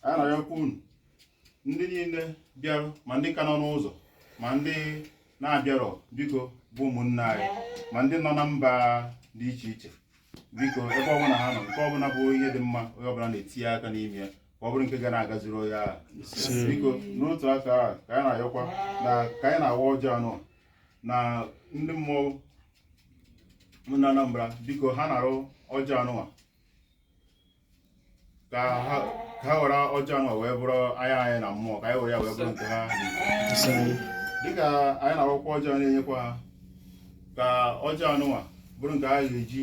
anyị na-ayọkwa unu ndị niile bịarụ ma ndị ka nọ n'ụzọ ma ndị na-abịarọ biko bụ ụmụnne anyị ma ndị nọ na mba dị iche iche biko ebe ọbụla ha nọ nke ọbụla bụ ihe dị mma onye ọbụla na-etinye aka n'ime ya ka ọ bụrụ nke ga na-agaziri onye ahụ biko n'otu aka ahụ ka anyị na-ayọkwa na ka anyị na-awa ọjị anụnwa na ndị mmụọ na Anambra biko ha narụ ọjị anụnwa ka ha ka ha were ọjị anụnwa wee bụrụ anya anyị na mmụọ ka anyị were ya wee bụrụ nke ha dịka anyị na-awakwa ọjị a na-enyekwa ha ka ọjị anụnwa bụrụ nke ha ga-eji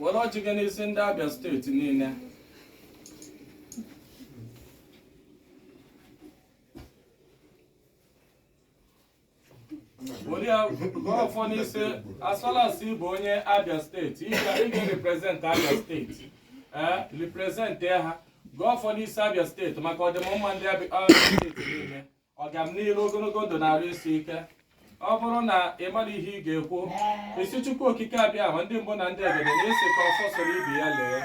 were ọjị gị n'isi ndị Abia steeti niile were ya gọọ ọfọ n'isi Asolasi bụ onye Abia steeti ị ga- ị ga-represent Abia steeti ee represent ha gọọ ọfọ n'isi Abia steeti maka ọdịmma ndị Abia Abia steeti niile ọgamniru ogologo ndụ na arụ isi ike ọ bụrụ na ị mara ihe ị ga-ekwu ị sị chukwu okike abịama ndị mbụ na ndị egede na-asị ka ọfọ soro ibe ya lee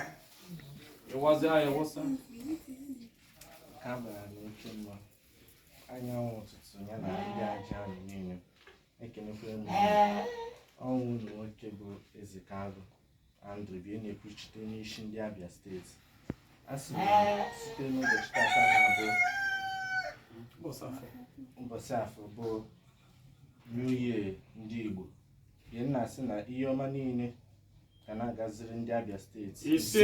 ịwazi anyị wụsa ha bara n'oke mma anyanwụ ụtụtụ ya na ndị aja ahụ niile ekenekwere m unu ụlọ nwoke bụ eze ka agụ Andrew bie na-ekwuchite onye isi ndị Abia steeti a sị site n'ụbọchị tata na-abụ ụbọchị afọ bụ New Year ndị Igbo bie na-asị na ihe ọma niile ga na-agaziri ndị Abia steeti Ise.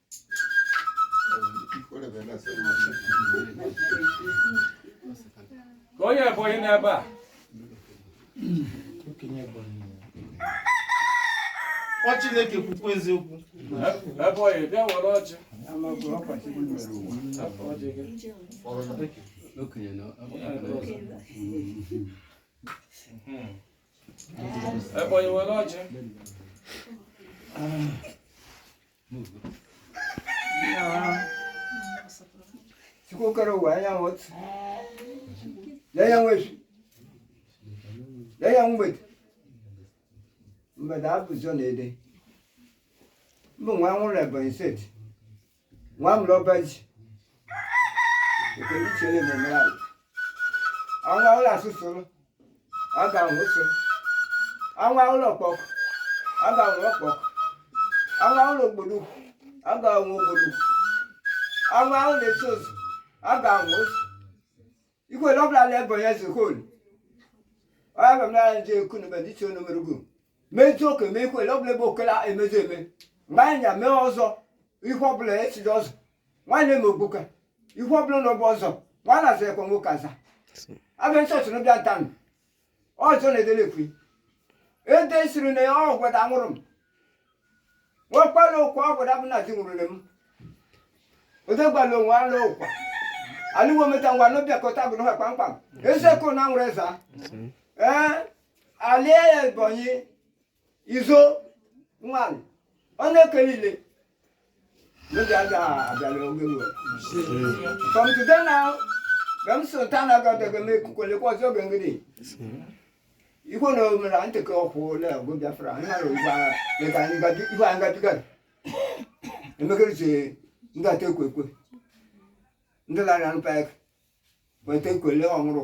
ka onye ebonyi nọ ebe a ọ chineke kwukwa eziokwu ebonyi bịa were ọjị ebonyi were ọjị sikokara ọwụwa anyanwụ otu lee ya nwe efi lee ya mgbede mgbede abụzọ na-ede mbụ nwa nwụrụ ebonyi steeti nwa mụrụ ọba ji ekele chere na-emere ala ọnwa ụlọ asụsụrụ aga ahụ ụsụ anwa ụlọ ọkpọkọ aga ahụ ọkpọkọ anwa ụlọ ogbodokwu aga ahụ ogbodo anwa ụlọ esi ozu aga ahụ ozu ihe l'ọbụla la ebe onye zikol ọya bịa mara nje ekwu na mmadụ isi onu merugo meju oke mee ihe l'ọbụla ebe okela emezu eme mgbe anyị ya mee ọzọ ihe ọbụla esiri ọzọ nwanne m ogbuka ihe ọbụla na ọbụ ọzọ nwanne azụ ekwe nwoke aza abịa nsọ soro bịa ntanụ ọzọ na-edele ekwe ede siri na ya ọ gwada nwụrụ m nwekwala ụkwa ọ gwada bụ na di nwụrụle m odegbala onwe ala ụkwa alụwo meta ngwa n'obiakọta bụ n'ụwa kpamkpam eziokwu na nwere eza ee ala ebonyi izo nwanyị ọ na-ekele ile n'oge aga abịala oge ruo from today now mgbe m sịrị taa na agadaga m ekukwelekwa ọzọ oge ngịrị igwe na omere nteke ọkwụ ole ọgụ biafra anyị mara ugbu agha meka anyị gaji igwe anyị gabigara emekerịsị ndị ata ekwe ekwe ndị lara npa eke weta ekwele ọhụrụ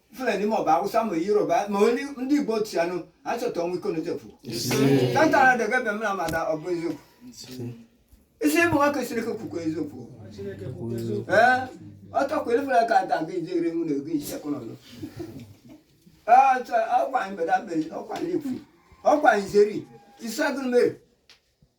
fulani ma ọ bụ awụsa ma yoruba ma ndị igbo otu ya nụ ha chọta ọnwụ iko n'ochefu tantara debe ebe m na amada ọ bụ eziokwu isi ịbụ nwa kwesịrị ka okwukwe eziokwu ee ọtọ kwere fere ka ada gị jegere mụ na ego isi akụ n'ọzọ ọkwa anyị beda beri ọkwa anyị ekwu ọkwa anyị zeri isi agụrụ mere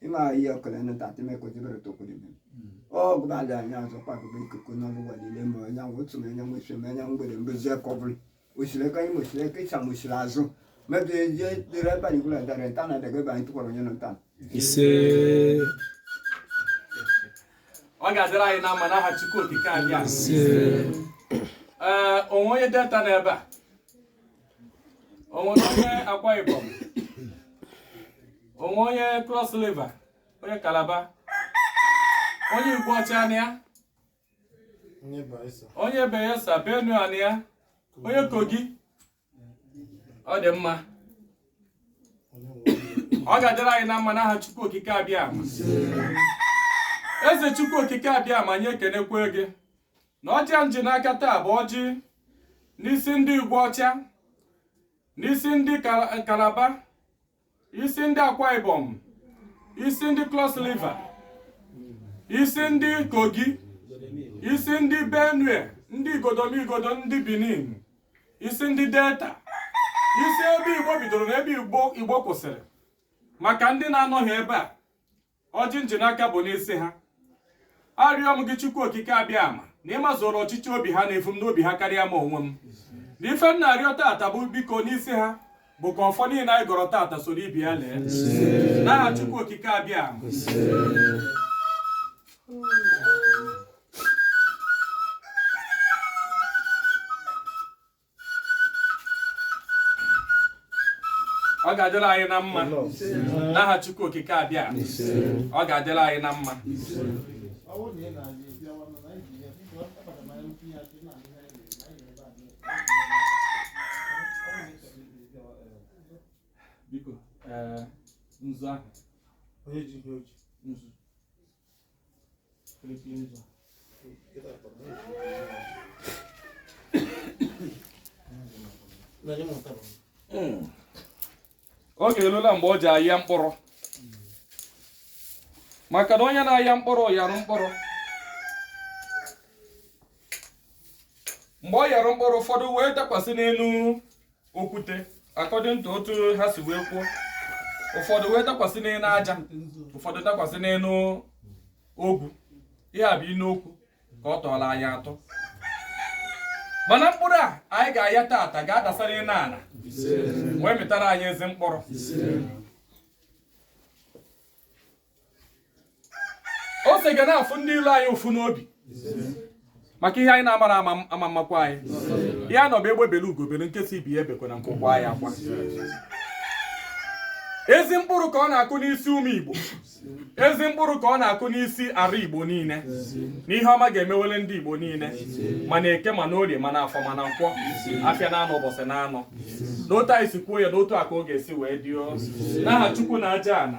ima ihe ọbụla na tatị mee ka ojibere tokwuru ime ọ gụba ala anya azọ kpagụba ikuku na ọbụwa niile ma onye ahụ otu ma onye nwe isi ma onye mgbede mbozi aka ọ bụla osiri aka nri osiri aka ịcha ma osiri azụ mebe eje dịrị ebe anyị gwụla dara nta na adaga ebe anyị tụkwara onye nọ nta ise ọ ga-adịrị anyị na mma n'aha Chukwu okike abịama ise ee onwe onye delta n'ebe a onwe onye Akwa Ibom onwe onye Cross River onye Kalaba onye Igweọcha na ya onye Bayelsa Benue na ya onye Kogi ọ dị mma ọ ga-adịrị anyị na mma n'aha Chukwu Okike Abịama eze Chukwu Okike Abịama anyị ekenekwe gị na ọjị a m ji n'aka taa bụ ọjị n'isi ndị igwe ọcha n'isi ndị kalaba isi ndị akwa ibom isi ndị cross river isi ndị kogi isi ndị benue ndị igodomigodo ndị benin isi ndị delta isi ebe igbo bidoro na ebe igbo kwụsịrị maka ndị na-anọghị ebe a ọjị m ji n'aka bụ n'isi ha arịọ m gị chukwu okike abịama na ị mazuru ọchịchọ obi ha na-efu m n'obi ha karịa m onwe m na ife m na-arịọ tata bụ biko n'isi ha bụ ka ọfọ niile anyị gọrọ tata soro ibe ya lee n'aha chukwu okike abịama ọ ga-adịrị anyị na mma n'aha Chukwu okike abịa ọ ga-adịrị anyị na mma biko nzu ahụ onye ji ihe o ji nzu oge elula mgbe e ji aya mkpụrụ maka na onye na-aya mkpụrụ yarụ mkpụrụ mgbe ọ yarụ mkpụrụ ụfọdụ wee dakwasị n'elu okwute according to otu ha si wee kwuo ụfọdụ wee dakwasị n'elu aja ụfọdụ dakwasị n'elu ogwu ihe a bụ inu okwu ka ọ tụụlụ anyị atụ mana mkpụrụ a anyị ga-aya tata ga-adasara n'ana wee mịtara anyị ezi mkpụrụ ose ga na-afụ ndị ilo anyị ụfụ n'obi maka ihe anyị na-amarọ ama amakwa anyị ihe a nọ bụ egbe bele ugo bele nke sị ibe ya ebekwana nku kwaa ya akwa ezi mkpụrụ ka ọ na-akụ n'isi ụmụ igbo ezi mkpụrụ ka ọ na-akụ n'isi ọra igbo niile na ihe ọma ga-emewele ndị igbo niile ma na eke ma na orie ma na afọ ma na nkwọ afịa na anọ ụbọchị na anọ n'otu anyị si kwuo ya n'otu a ka ọ ga-esi wee dị o n'aha Chukwu na aja ana